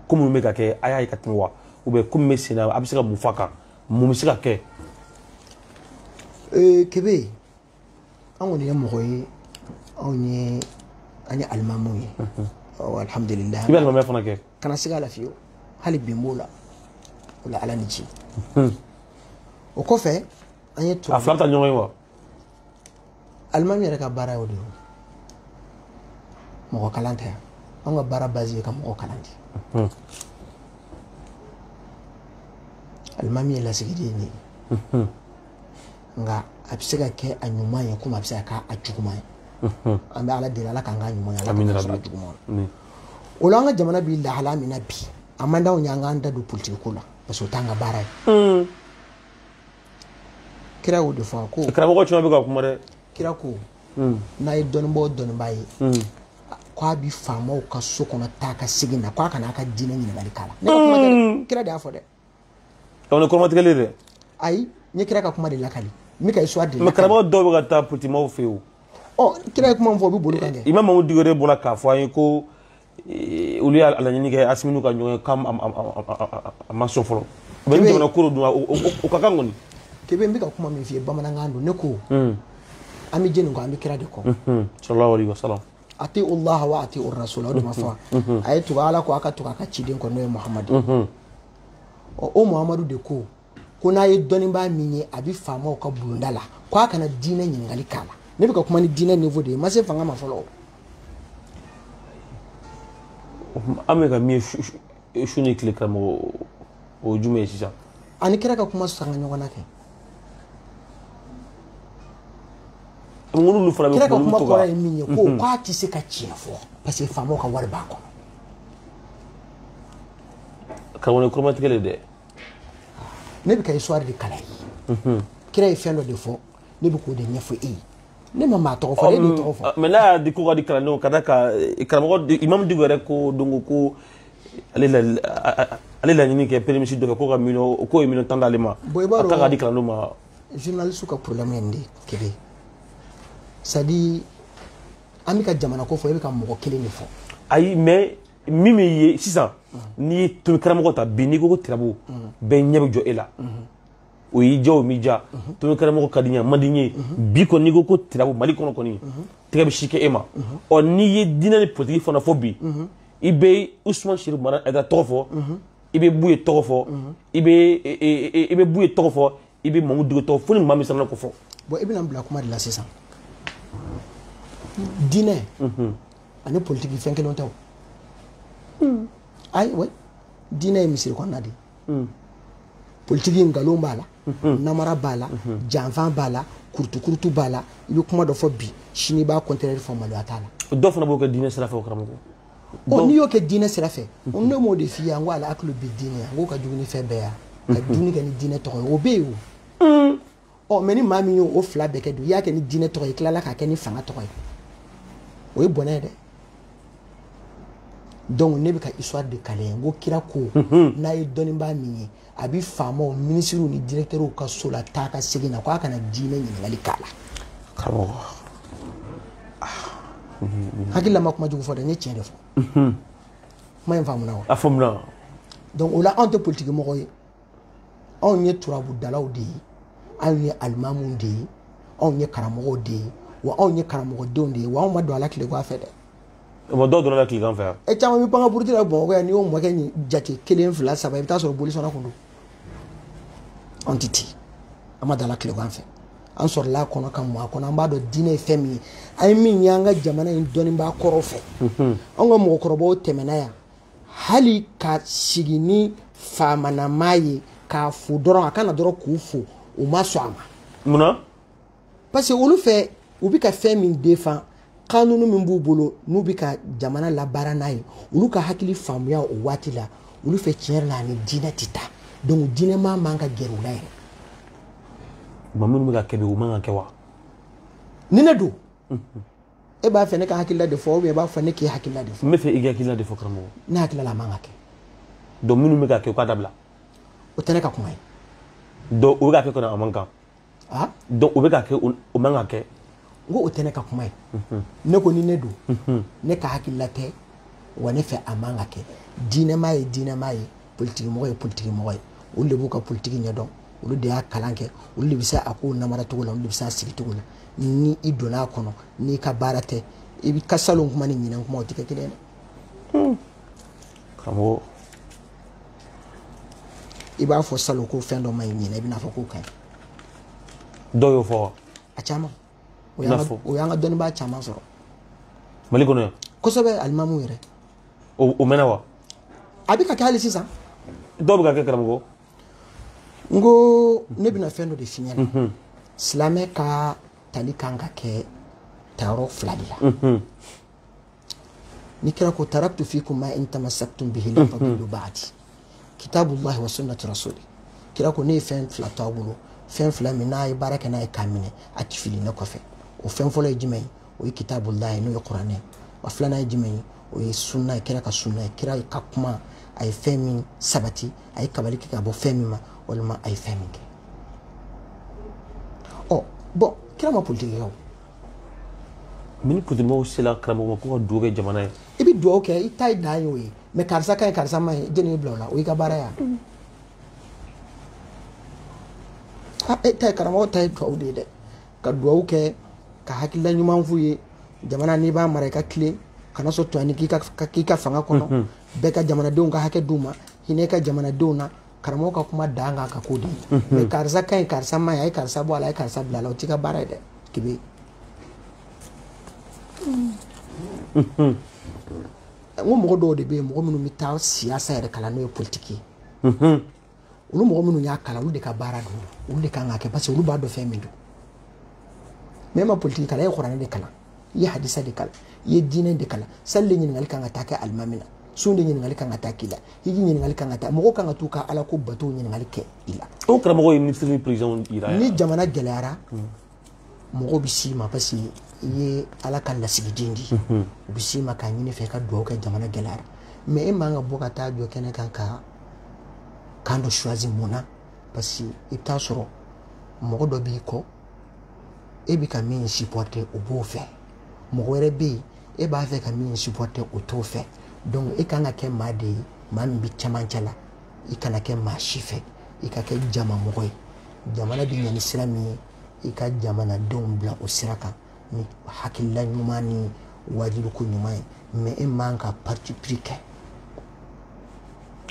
ko minnu bɛ ka kɛ a y'a ye ka tɛmɛ wa ou bien ko min bɛ sen na a bɛ se ka mun fɔ a kan mun bɛ se ka kɛ. kebe an kɔni ye mɔgɔ ye anw ye an ye alimamu ye alhamdulilayi i bɛ alimamiya fana kɛ kana siga la fiyewu hali bi n b'o la o la ala ni ci o kɔfɛ an ye a fila taa ɲɔgɔn ye wa alimami yɛrɛ ka baara y'o de ye mɔgɔ kalan tɛ yan anw ka baara base ye ka mɔgɔ kalan de alimami ye lasigiden de ye nka a bɛ se ka kɛ a ɲuman ye komi a bɛ se ka kɛ a juguman ye an bɛ ala deli ala k'an k'a ɲuman ye ala k'an sɔrɔ juguman na o la an ka jamana bɛ lahala min na bi a man d'anw ye an k'an da don politiki ko la parce que o t'an ka baara ye kira y'o de fɔ ko karamɔgɔ caman bɛ ka kuma dɛ kira ko n'a ye dɔnnibaa o dɔnnibaa ye ko a bɛ faamaw ka so kɔnɔ taa ka segin na ko a kana a ka diinɛ ɲininkali k'a la ne ka kuma tɛ dɛ kira de y'a fɔ dɛ donc ni kɔrɔmatigɛli dɛ ayi n ye kira ka kuma de lakali n bɛ ka histoire de lakali karamɔgɔ dɔw bɛ ka taa politikimɔgɔw fɛ yen ɔ kira ye kuma min fɔ o bɛ boli u kan kɛ imam mamudu diko yɛrɛ bɔra k'a fɔ an ye ko olu y'a laɲini kɛ asiminu ka ɲɔgɔn ye k'a ma sɔn fɔlɔ u bɛ ni jamana ko rɔ dun o ka kan kɔni kebe n bɛ ka kuma min f'i ye bamanankan don ne ko an bɛ jɔni kɔ an bɛ kira de kɔ sallallahu alaihi wasallam atiullah wa atiu rasul o de ma fɔ a ye tugu ala kɔ a ka tugu a ka ciden kɔ n'o ye muhamadu ɔ o muhamadu de ko ko n'a ye dɔnnibaa min ye a bɛ faamaw ka bulonda la ko a kana diinɛ ɲininkali k'a la ne bɛ ka kuma ni diinɛ niveau de ye n ma se fanga ma fɔlɔ o. an bɛ ka min ye su ni tile karamɔgɔ o ye jumɛn ye sisan a ni kira ka kuma sanga ɲɔgɔn na kɛ ŋunu fana bɛ kira ka kuma kɔrɔ ye min ye ko mhm. k'a tɛ se ka tiɲɛ fɔ parce que faamaw ka wari b'a kɔnɔ karamɔgɔ kɔrɔmatigɛli dɛ ne bɛ ka histoire de kalan ye mhm. kira ye fɛn dɔ de fɔ ne bɛ k'o de ɲɛfɔ e ye ne ma maa tɔgɔ fɔ e de tɔgɔ fɔ mais n'a y'a di ko ka di kalandenw ka da ka karamɔgɔ imam diko yɛrɛ ko don ko ko ale la ale laɲini kɛ premier ministre dɔ fɛ k'o ka miliyɔn k'o ye miliyɔn tan d'ale ma a ta ka di kalandenw ma journaliste ka problème ye nin de kelen c'est à dire an bɛ ka jamana ko fɔ e bɛ ka mɔgɔ kelen de fɔ ayi mais min bɛ yen sisan n'i ye tomi karamɔgɔ ta bi n'i ko ko tirabu bɛɛ ɲɛ bɛ jɔ e la o y'i diya o m'i diya tomi karamɔgɔ ka di n ye a man di n ye bi kɔni n'i ko ko tirabu mali kɔnɔ kɔni tɛgɛ bɛ si kɛ e ma ɔ n'i ye diinɛ ni politiki fana fɔ bi i bɛ usman sɛrifu madani hayidara tɔgɔ fɔ i bɛ buye tɔgɔ fɔ i bɛ i bɛ buye tɔgɔ fɔ i bɛ mahamudu diko tɔgɔ fɔ ni maa min sera k'o fɔ. bɔn i bɛna bila kuma de la sisan diinɛ ani politiki fɛn kelen tɛ o ayi wa diinɛ ye misiri kɔnɔna de ye politiki nkalon b'a la namara b'a la janfan b'a la kurutukurutu b'a la i bɛ kuma dɔ fɔ bi sini i b'a contraire fɔ maloya t'a la dɔw fana b'o kɛ diinɛ sira fɛ o karamɔgɔ ɔ n'i y'o kɛ diinɛ sira fɛ ne m'o de f'i ye an ko al aklu bi diin an k'o ka jugu ni fɛn bɛɛ ye ka dumuni kɛ ni diinɛ tɔgɔ ye o bɛ yen o ɔ mais ni maa min y'o o fila bɛɛ kɛ dun i y'a kɛ ni diinɛ tɔgɔ ye tilala k'a kɛ ni fanga tɔgɔ ye o ye bɔnɛ ye dɛ donc ne bɛ ka histoire de kalan n ko kira ko mhm. n'a ye dɔnnibaa min ye a bɛ faamaw minisiriw ni directeurs ka so la taa ka segin na ko a kana diinɛ ɲininkali k'a la karamɔgɔ ah. mhm. hakili la n ma kuma jugu fɔ dɛ n ye tiɲɛ de fɔ mhm. kuma in faamuna wa a faamuna donc o la anw tɛ politiki mɔgɔ ye anw ye turabudalaw de ye anw ye alimamuw de ye anw ye karamɔgɔw de ye wa anw ye karamɔgɔdenw de ye wa anw ma don a la tilegan fɛ dɛ mɔgɔ dɔw donna a la tilegan fɛ yan e caman bɛ pan ka puruti la bamakɔ yan n'i y'o mɔkɛ nin jate kelen fila saba i bɛ taa sɔrɔ bolisɔnna tun don anw tɛ ten an ma don a la tilegan fɛ an sɔrɔla a kɔnɔ ka mɔ a kɔnɔ an b'a dɔn diinɛ ye fɛn min ye an ye min ye an ka jamana in dɔnnibaa kɔrɔw fɛ anw ka mɔgɔkɔrɔbaw tɛmɛna yan hali ka sigi ni faamanamaa ye k'a fo dɔrɔn a ka na dɔrɔn k'u fo u ma sɔn a ma mun na parce que olu fɛ u bɛ ka fɛn min defan kanunu min b'u bolo n'u bɛ ka jamana labaara n'a ye olu ka hakili faamuya o waati la olu fɛ tiɲɛ yɛrɛ la a ni diinɛ tɛ taa donc diinɛmaa man ka gɛrɛ u la yɛrɛ maa minnu bɛ k'a kɛ bi u man ka kɛ wa ni ne don e b'a fɛ ne ka hakilila de fɔ ou bien i b'a fɔ ne k'i hakilila de fɔ n b'a fɛ i ka hakilila de fɔ karamɔgɔ ne hakili la a man ka kɛ donc minnu bɛ k'a kɛ u k'a dabila o tɛ ne ka kuma ye donc u bɛ k'a kɛ kɔni a man kan donc u bɛ k'a kɛ o man ka kɛ n ko o tɛ ne ka kuma ye ne ko ni ne don ne ka hakilila tɛ wa ne fɛ a man ka kɛ diinɛmaa ye diinɛmaa ye politikimɔgɔ ye politikimɔgɔ ye olu de b'u ka politiki ɲɛdɔn olu de y'a kalan kɛ olu de bɛ se a kow namara cogo la olu de bɛ se a sigi cogo la ni i donna a kɔnɔ n'i ka baara tɛ i ka salon kuma ni ɲinɛn kuma o tɛ kɛ kelen ye dɛ. Hmm. karamɔgɔ. i b'a fɔ salon ko fɛn dɔ ma ɲi ɲinɛn i bɛna fɔ k'o ka ɲi. dɔw y'o fɔ wa. a caman. o y'an ka- o y'an ka dɔnnibaa caman sɔrɔ mali kɔnɔ yan kosɛbɛ alimamu yɛrɛ o o mɛnna wa a bɛ ka kɛ hali sisan dɔw bɛ k'a kɛ karamɔgɔ n ko ne bɛna fɛn dɔ de f'i ɲɛna silamɛ ka tali kan ka kɛ tayɔrɔ fila de la ni kira ko taraktu fikum ma in tamassaktum bihi lan tadillu ba'di kitabullahi wa sunnati rasuli kira ko ne ye fɛn fila to a bolo fɛn fila min n'a ye baara kɛ n'a ye k'a minɛ a ti fili ne kɔfɛ o fɛn fɔlɔ ye jumɛn ye o ye kitabullahi n'o ye kuranɛ ye wa filanan ye jumɛn ye o ye sunna ye kira ka sunna ye kira ka kuma a ye fɛn min sabati a ye kabali kɛ ka bɔ fɛn min ma walima a ye fɛn min kɛ ɔ bɔn kira ma politiki kɛ o mɛ ni politikimaaw sela karamɔgɔ ma ko ka dugawu kɛ jamana ye i bɛ dugawu kɛ i ta ye dan y'o ye mɛ karisa ka ɲi karisa ma ɲi jɔn y'i bila o la o y'i ka baara ye e ta ye karamɔgɔ ta ye dugawu de ye dɛ ka dugawu kɛ ka hakilila ɲuman f'u ye jamana n'i b'a mara i ka tilen kana sɔn tɔɲɔni k'i ka fanga kɔnɔ bɛɛ ka jamanadenw ka hakɛ d'u ma hinɛ i ka jamanadenw na karamɔgɔ ka kuma dan kan ka k'o di mɛ karisa ka ɲi karisa ma ɲi a ye karisa bɔ a la a ye karisa bila a la o t'i ka baara ye dɛ kebe n ko mɔgɔ dɔw de bɛ yen mɔgɔ minnu bɛ taa siyasa yɛrɛ kalan n'o ye politiki ye olu mɔgɔ minnu y'a kalan olu de ka baara don olu de kan k'a kɛ parce que olu b'a dɔn fɛn min don mɛ e ma politiki kalan e ye kuranɛ de kalan i ye hadisa de kalan i ye diinɛ de kalan sali de ɲininkali kan ka taa kɛ alimami na sun de ɲininkali kan ka taa k'i la hiji ɲininkali kan ka taa mɔgɔw kan ka t'u ka ala ko batow ɲininkali kɛ i la o karamɔgɔ ye minisiri ni perezidɛnw jira ni jamana gɛlɛyara mɔgɔw bɛ s'i ma parce que i ye ala ka lasigiden di u bɛ s'i ma k'a ɲini i fɛ ka dugawu kɛ jamana gɛlɛyara mɛ e man ka bɔ ka taa jɔ kɛnɛ kan ka camp dɔ choisir mun na parce que i bɛ taa sɔrɔ mɔgɔ dɔ b'i kɔ e bɛ ka min supporter o b'o fɛ mɔgɔ wɛrɛ bɛ yen e b'a fɛ ka min supporter o t'o fɛ donc e kan ka kɛ maa de ye maa min bɛ cɛmancɛ la i kana kɛ maa si fɛ i ka kɛ jama mɔgɔ ye jamana bɛ ɲɛ ni sira min ye i ka jamanadenw bila o sira kan ni hakilila ɲuman ni waajuliko ɲuman ye mɛ e man ka parti pris kɛ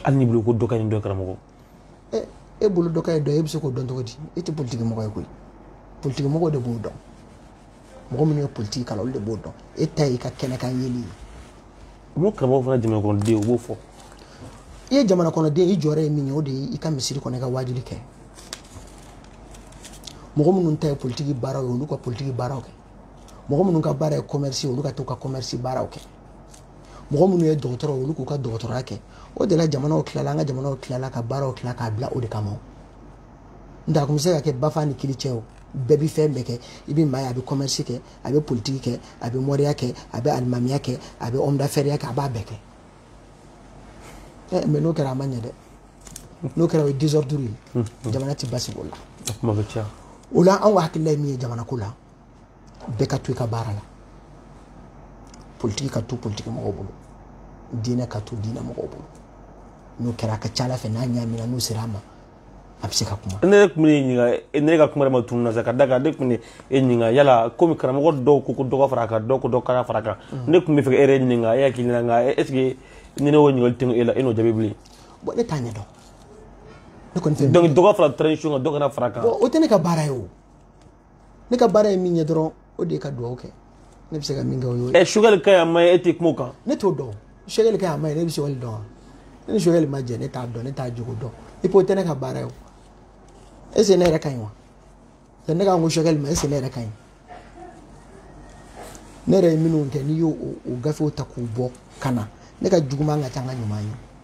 hali ni bolo ko dɔ kɛ ni dɔ karamɔgɔ e bolo dɔ ka ɲi dɔ ye e bɛ se k'o dɔn cogo di e tɛ politiki mɔgɔ ye koyi politiki mɔgɔw de b'o dɔn mɔgɔ minnu ye politiki kalan olu de b'o dɔn e ta y'i ka kɛnɛkan yeli ye olu karamɔgɔ fana jamanakɔnɔden u b'o fɔ i ye jamanakɔnɔden i jɔyɔrɔ ye min ye o de ye i ka misiri kɔnɔ i ka waajuli kɛ mɔgɔ minnu ta ye politiki baaraw ye olu ka politiki baaraw kɛ mɔgɔ minnu ka baara ye commerce ye olu ka t'u ka commerce baaraw kɛ mɔgɔ minnu ye dɔgɔtɔrɔ olu k'u ka dɔgɔtɔrɔya kɛ o de la jamanaw tilala an ka jamanaw tilala ka baaraw tila k'a bila o de kama n tɛ a kun bɛ se ka kɛ bafa ni kiri cɛ o bɛɛ bɛ fɛn bɛɛ kɛ i bɛ maa ye a bɛ kɔmɛrisi kɛ a bɛ politiki kɛ a bɛ mɔriya kɛ a bɛ alimamiya kɛ a bɛ ɔmdafɛriya kɛ a b'a bɛɛ kɛ ɛ mɛ n'o kɛra a ma ɲɛ dɛ n'o kɛra o ye désordre ye jamana tɛ basigi o la o la anw ka hakilila ye min ye jamanako la bɛɛ ka to i ka baara la politiki ka to politiki mɔgɔw bolo diinɛ ka to diinɛ mɔgɔw bolo n'o kɛra a ka ca a la fɛ n'a ɲaamina n'u sera a ma a bɛ se ka kuma ne tun bɛ ɲininka ne ka kuma ma tunu na sa ka da kan ne tun bɛ e ɲininka yala komi karamɔgɔ dɔw ko ko dɔ ka fara a kan dɔw ko dɔ kana fara a kan mm. ne tun bɛ fɛ e yɛrɛ ɲininka e hakili la nka est ce que ni ne y'o ɲininkali tɛmɛ e la e n'o jaabi bilen bɔn ne t'a ɲɛ dɔn ne kɔni fɛ donc dɔ ka fara transition kan dɔ kana fara a kan o tɛ ne ka baara ye o ne ka baara ye min ye dɔrɔn o de ye ka dugawu kɛ ne bɛ se ka min kɛ o y'o ye. ɛ sugɛli ka ɲi a man ɲi e tɛ kuma o kan. ne t'o dɔn sugɛli ka ɲi a man ɲi ne bɛ sugɛli dɔn wa ne ni sugɛli ma jɛ ne t'a dɔn ne t'a jogo dɔn i ko o tɛ ne ka baara ye o est ce que ne yɛrɛ ka ɲi wa yanni ne ka n ko sugɛli ma est ce que ne yɛrɛ ka ɲi ne yɛrɛ ye minnu kɛ n'i y'o o gafew ta k'u bɔ ka na ne ka juguman ka ca n ka ɲuman ye.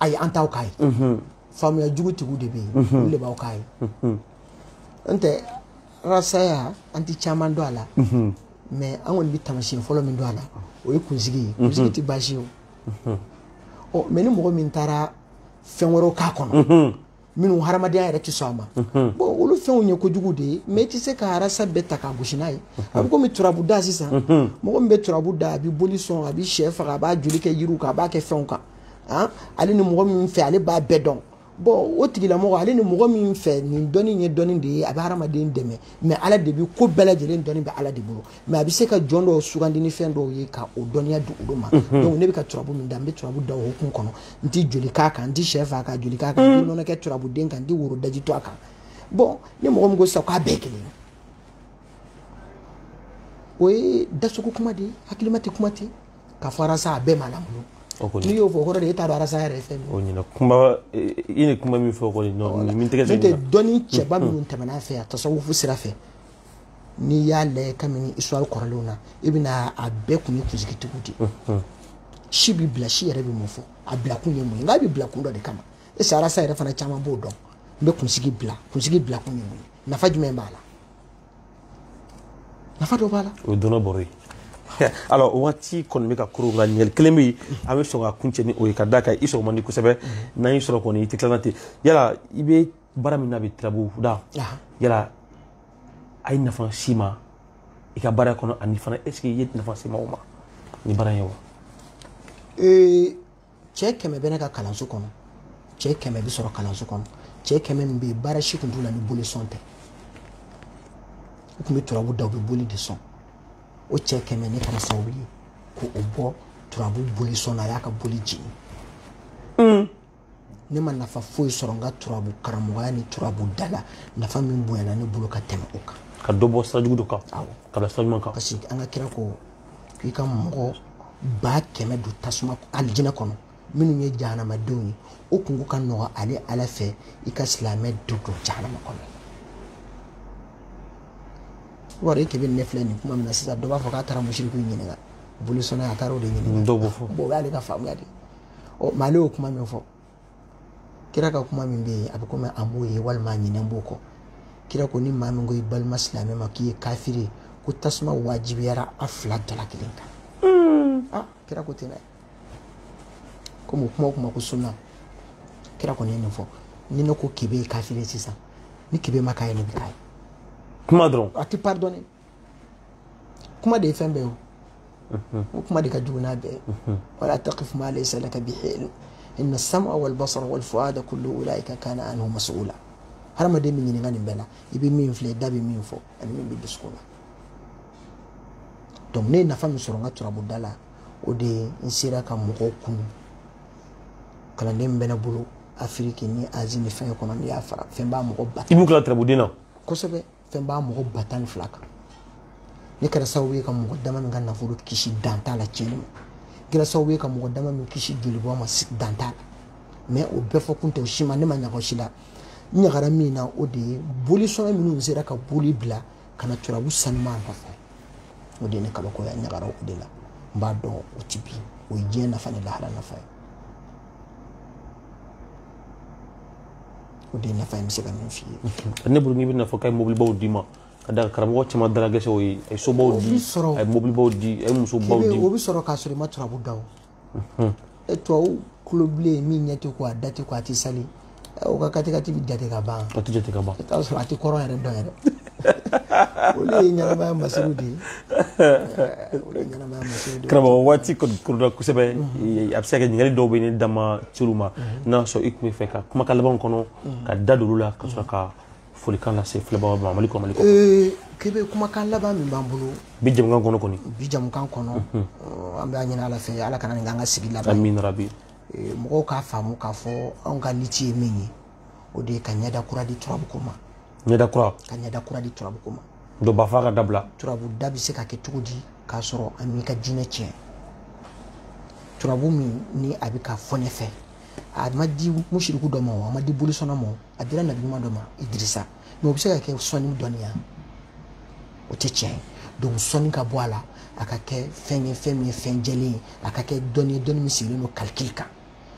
ayi an t'aw k'a ye faamuya jugutigiw de bɛ yen olu de b'aw k'a ye n tɛ rasaya an tɛ caman dɔn a la mɛ an kɔni bɛ tamasiyɛn fɔlɔ min dɔn a la o ye kunsigi ye kunsigi tɛ baasi ye o mɛ ni mɔgɔ min taara fɛn wɛrɛw k'a kɔnɔ minnu hadamadenya yɛrɛ tɛ sɔn a ma bɔn olu fɛnw ye kojugu de ye mɛ i tɛ se ka arasa bɛɛ ta k'a gosi n'a ye a bɛ komi turabu da sisan mɔgɔ min bɛ turabu da a bɛ boli sɔn a bɛ sɛ faga a b'a joli kɛ yiriw kan a b'a kɛ fɛnw kan ale ni mɔgɔ min fɛ ale b'a bɛɛ dɔn bɔn o tigilamɔgɔ ale ni mɔgɔ min fɛ nin dɔnni ye dɔnni de ye a bɛ hadamaden dɛmɛ mɛ ala de bɛ ko bɛɛ lajɛlen dɔnni bɛ ala de bolo mais a bɛ se ka jɔn dɔw sugandi ni fɛn dɔw ye ka o dɔnniya di olu ma mhm. donc ne bɛ ka turabu min da n bɛ turabu da o hukumu kɔnɔ n tɛ joli k'a kan n tɛ sɛ faga ka joli k'a kan n tɛ mhm. nɔnɔ kɛ turabuden kan n tɛ woro daji tu a kan bon ni mɔgɔ min ko sisan k'a bɛɛ kelen o ye dasogo kuma de ye hakilima tɛ kuma ten ka fɔ arasa a bɛɛ ma lamɔ n'i y'o fɔ o kɔrɔ de e t'a dɔn arasa yɛrɛ ye fɛn min ye o ɲɛna kuma i ni kuma min fɔ kɔni min tɛgɛ n'o tɛ dɔnni cɛba minnu tɛmɛna a fɛ yan tasawufu sira fɛ n'i y'a lajɛ kabini histoire kɔrɔlenw na i bɛna a bɛɛ kun ye kunsigitigiw de ye si bi bila si yɛrɛ bɛ mun fɔ a bila kun ye mun ye nka a bɛ bila kun dɔ de kama est ce que rasta yɛrɛ fana caman b'o dɔn n bɛ kunsigi bila kunsigi bila kun ye mun ye nafa jumɛn b'a la nafa dɔ b'a la o ye dɔnni bɔrɔ ye alors o waati kɔni bɛ ka koron nka ɲininkali kelen bɛ yen an bɛ sɔn ka kuncɛ ni o ye ka d'a kan i sɔrɔ man di kosɛbɛ n'an y'i sɔrɔ kɔni i tɛ tilala ten yala i bɛ baara min na bi turabu da yala a ye nafa se i ma i ka baara kɔnɔ ani fana est ce que i ye nafa se maaw ma ni baara ye wa cɛ kɛmɛ bɛ ne ka kalanso kɔnɔ cɛ kɛmɛ bɛ sɔrɔ kalanso kɔnɔ cɛ kɛmɛ min bɛ yen baara si tun t'u la ni boli sɔn tɛ u tun bɛ turabu da u bɛ boli de sɔn o cɛ kɛmɛ ne kɛra sababu ye k'o bɔ turabu boli sɔn na a y'a ka boli jigin ne ma nafa foyi sɔrɔ n ka turabu karamɔgɔya ni turabu da la nafa min bonyana ne bolo ka tɛmɛ o kan ka dɔ bɔ sirajugu dɔ kan ka bila sira ɲuman kan parce que an ka kira ko k'i ka mɔgɔ ba kɛmɛ don tasuma alijinɛ kɔnɔ minnu ye jahanamadenw ye o kunko ka nɔgɔ ale ala fɛ i ka silamɛ dɔ don jahanama kɔnɔ wari e kebe ne filɛ nin kuma min na sisan dɔ b'a fɔ k'a taara musiriku ɲininka bolisɔnna a taara o de ɲininka dɔw b'o fɔ o y'ale ka faamuya de ye ɔ mais ale y'o kuma min fɔ kira ka kuma min bɛ yen a bɛ komi a m'o ye walima a ɲinɛnen b'o kɔ kira ko ni maa min ko i balima silamɛ ma k'i ye kafiri ye ko tasuma wajibiyara a fila dɔ la kelen kan hmm. ah, kira ko ten dɛ komi o kuma o kuma ko sunna kira kɔni ye nin fɔ ni ne ko kebe ye kafiri ye sisan ni kebe ma k'a ye ne bɛ k'a ye kuma dɔrɔn a tɛ pardonner kuma de ye fɛn bɛɛ o o kuma de ka jugu n'a bɛɛ wala taqif ma laysa laka bihi ilm inna as-sam'a wal basara wal fu'ada kullu ulaika kana anhu mas'ula hadamaden bɛ ɲininka nin bɛɛ la i bɛ min filɛ i da bɛ min fɔ ani min bɛ dusukun na donc ne ye nafa min sɔrɔ n ka turabuda la o de ye n sera ka mɔgɔw kunun kalanden min bɛ ne bolo afiriki ni azi ni fɛn kɔnɔ n'i y'a fara fɛn b'a mɔgɔ ba i b'u kila turabuden na kosɛbɛ fɛn b'a mɔgɔ ba tan ni fila kan ne kɛra sababu ye ka mɔgɔ dama min ka nafolo kisi dan t'a la tiɲɛni ma kɛra sababu ye ka mɔgɔ dama min kisi jolibɔ ma dan t'a la mais o bɛɛ fɔ kun tɛ o si ma ne ma ɲaga o si la n ɲagara min na o de ye bolisɔnna minnu sera ka boli bila ka na turabu sanuma nɔfɛ o de ye ne kabakoya ɲagara o de la n b'a dɔn o ti bi o ye diɲɛ nafa ni lahara nafa ye o de nafa n bɛ se ka min f'i ye ne bolo n'i bɛna fɔ k'a ye mobilibaw d'i ma a da karamɔgɔ caman dalagɛsɛ o ye a ye sobaw di a ye mobilibaw di a ye musobaw di o bɛ sɔrɔ k'a sɔrɔ i ma turabu da o tubabu kulobilen min ɲɛ tɛ ko a da tɛ ko a tɛ sali o ka katikati bɛ jate ka ban a tɛ jate ka ban i t'a sɔrɔ a tɛ kɔrɔ yɛrɛ dɔn yɛrɛ olu ye ɲɛnamaya masiriw de ye olu ye ɲɛnamaya masiriw de ye karamɔgɔ waati kɔni kurula kosɛbɛ a bɛ se ka kɛ ɲininkali dɔw bɛ ne da ma se olu ma n'a sɔrɔ i tun b'a fɛ ka kumakan labanw kɔnɔ ka da don olu la ka sɔrɔ ka folikan lase filɛbagaw ma mali kɔnɔ mali kɔ kebe kumakan laban min b'an bolo bi jamukan kɔnɔ kɔni bi jamukan kɔnɔ an bɛ a ɲini ala fɛ ala kana nin k'an ka sigi laban amina rabi mɔgɔw k'a faamu k'a fɔ anw ka liti ye min ye o de ye ka ɲɛda kura di turabu ko ma ɲɛda kura ka ɲɛda kura di turabu ko ma dɔw b'a fɔ k'a dabila turabu da bɛ se ka kɛ cogo di k'a sɔrɔ a m'i ka diinɛ tiɲɛ turabu min ni a bɛ k'a fɔ ne fɛ a ma di musiriku dɔ ma o a ma di bolisɔnna ma a dira nabiɲuman dɔ ma idirisa mais o bɛ se ka kɛ sɔnni dɔnniya o tɛ tiɲɛ ye donc sɔnni ka bɔ a la a ka kɛ fɛn ye fɛn min ye fɛn jɛlen ye a ka kɛ dɔnni ye dɔnni min sigilen don kalikili kan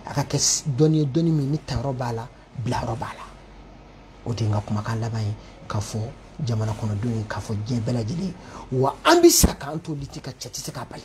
a ka kɛ dɔnni ye dɔnni min ni tayɔrɔ b'a la bilayɔrɔ b'a la o de ye n ka kumakan laban ye k'a fɔ jamana kɔnɔdenw ye k'a fɔ diɲɛ bɛɛ lajɛlen ye wa an bɛ sa k'an to liti kan cɛ tɛ se k'a bali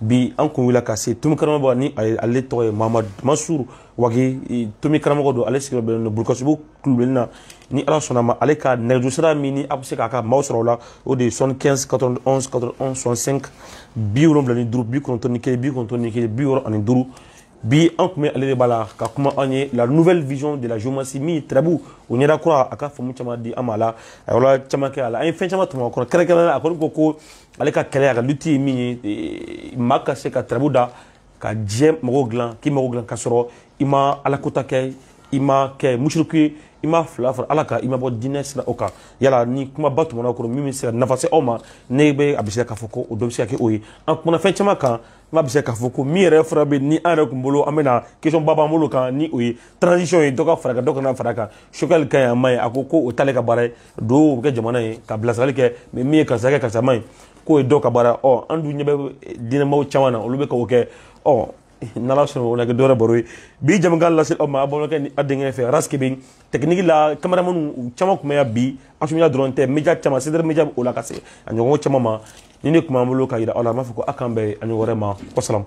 bi an kun wulila ka se tomi karamɔgɔ ni ale tɔgɔ ye mamadu mansuru wage tomi karamɔgɔ don ale sigiyɔrɔ bɛnnen don burukasumbugu kulubilenni na ni ala sɔnna a ma ale ka nɛgɛjuru sira min ni a bɛ se k'a ka maaw sɔrɔ o la o de ye soixante-quinze quatre-vingt-onze quatre-vingt-onze soixante-cinq bi wolonwula ni duuru bi kɔnɔntɔn ni kelen bi kɔnɔntɔn ni kelen bi wɔɔrɔ ani duuru bi an tun bɛ ale de bara ka kuma an ye la nouvelle vision de la géomancie min ye turabu o ɲɛda kura a ka faamu caman di an ma a la a yɔrɔ caman kɛ a la an ye fɛn caman tɔmɔ a kɔnɔ kɛrɛnkɛrɛnnenya la a kɔni ko ko ale ka kɛlɛ a ka luti ye min ye eh, maa ka se ka turabu da ka diɲɛ magow dilan k'i mago dilan ka sɔrɔ i ma alakota kɛ i ma kɛ musiriku ye i ma filan fara ala kan i ma bɔ diinɛ sira o kan yala ni kumaba tɛmɛna o kɔnɔ min bɛ se ka nafa se aw ma ne bɛ a bɛ se k'a fɔ ko o dɔ bɛ se ka kɛ o ye an kumana fɛn caman kan n bɛ se k'a fɔ ko min yɛrɛ fura bɛ ni an yɛrɛ tun bolo an bɛna question ba b'an bolo kan ni o ye transition ye dɔ ka fara kan dɔ kana fara kan choguel ka ɲi a man ɲi a ko ko o t'ale ka baara ye duba kɛ jamana ye ka bilasirali kɛ mais min ye karisa ka ɲi karisa man ɲi k'o ye dɔ ka baara ɔ an dun ɲɛ bɛ diinɛmaaw caman na olu bɛ k'o kɛ ɔ n'ala sɔnna o na kɛ don wɛrɛ baro ye bi jamukan lase aw ma aw balimakɛ ni aw denkɛ fɛ arasi kebe tɛkiniki la kameramani caman tun bɛ yan bi actu média dɔrɔn tɛ média caman sedere média o la ka se a ɲɔgɔn caman ma nin de tun b'an bolo ka yira aw la an b'a fɔ ko a k'an bɛn a ɲɔgɔn wɛrɛ ma wasalamu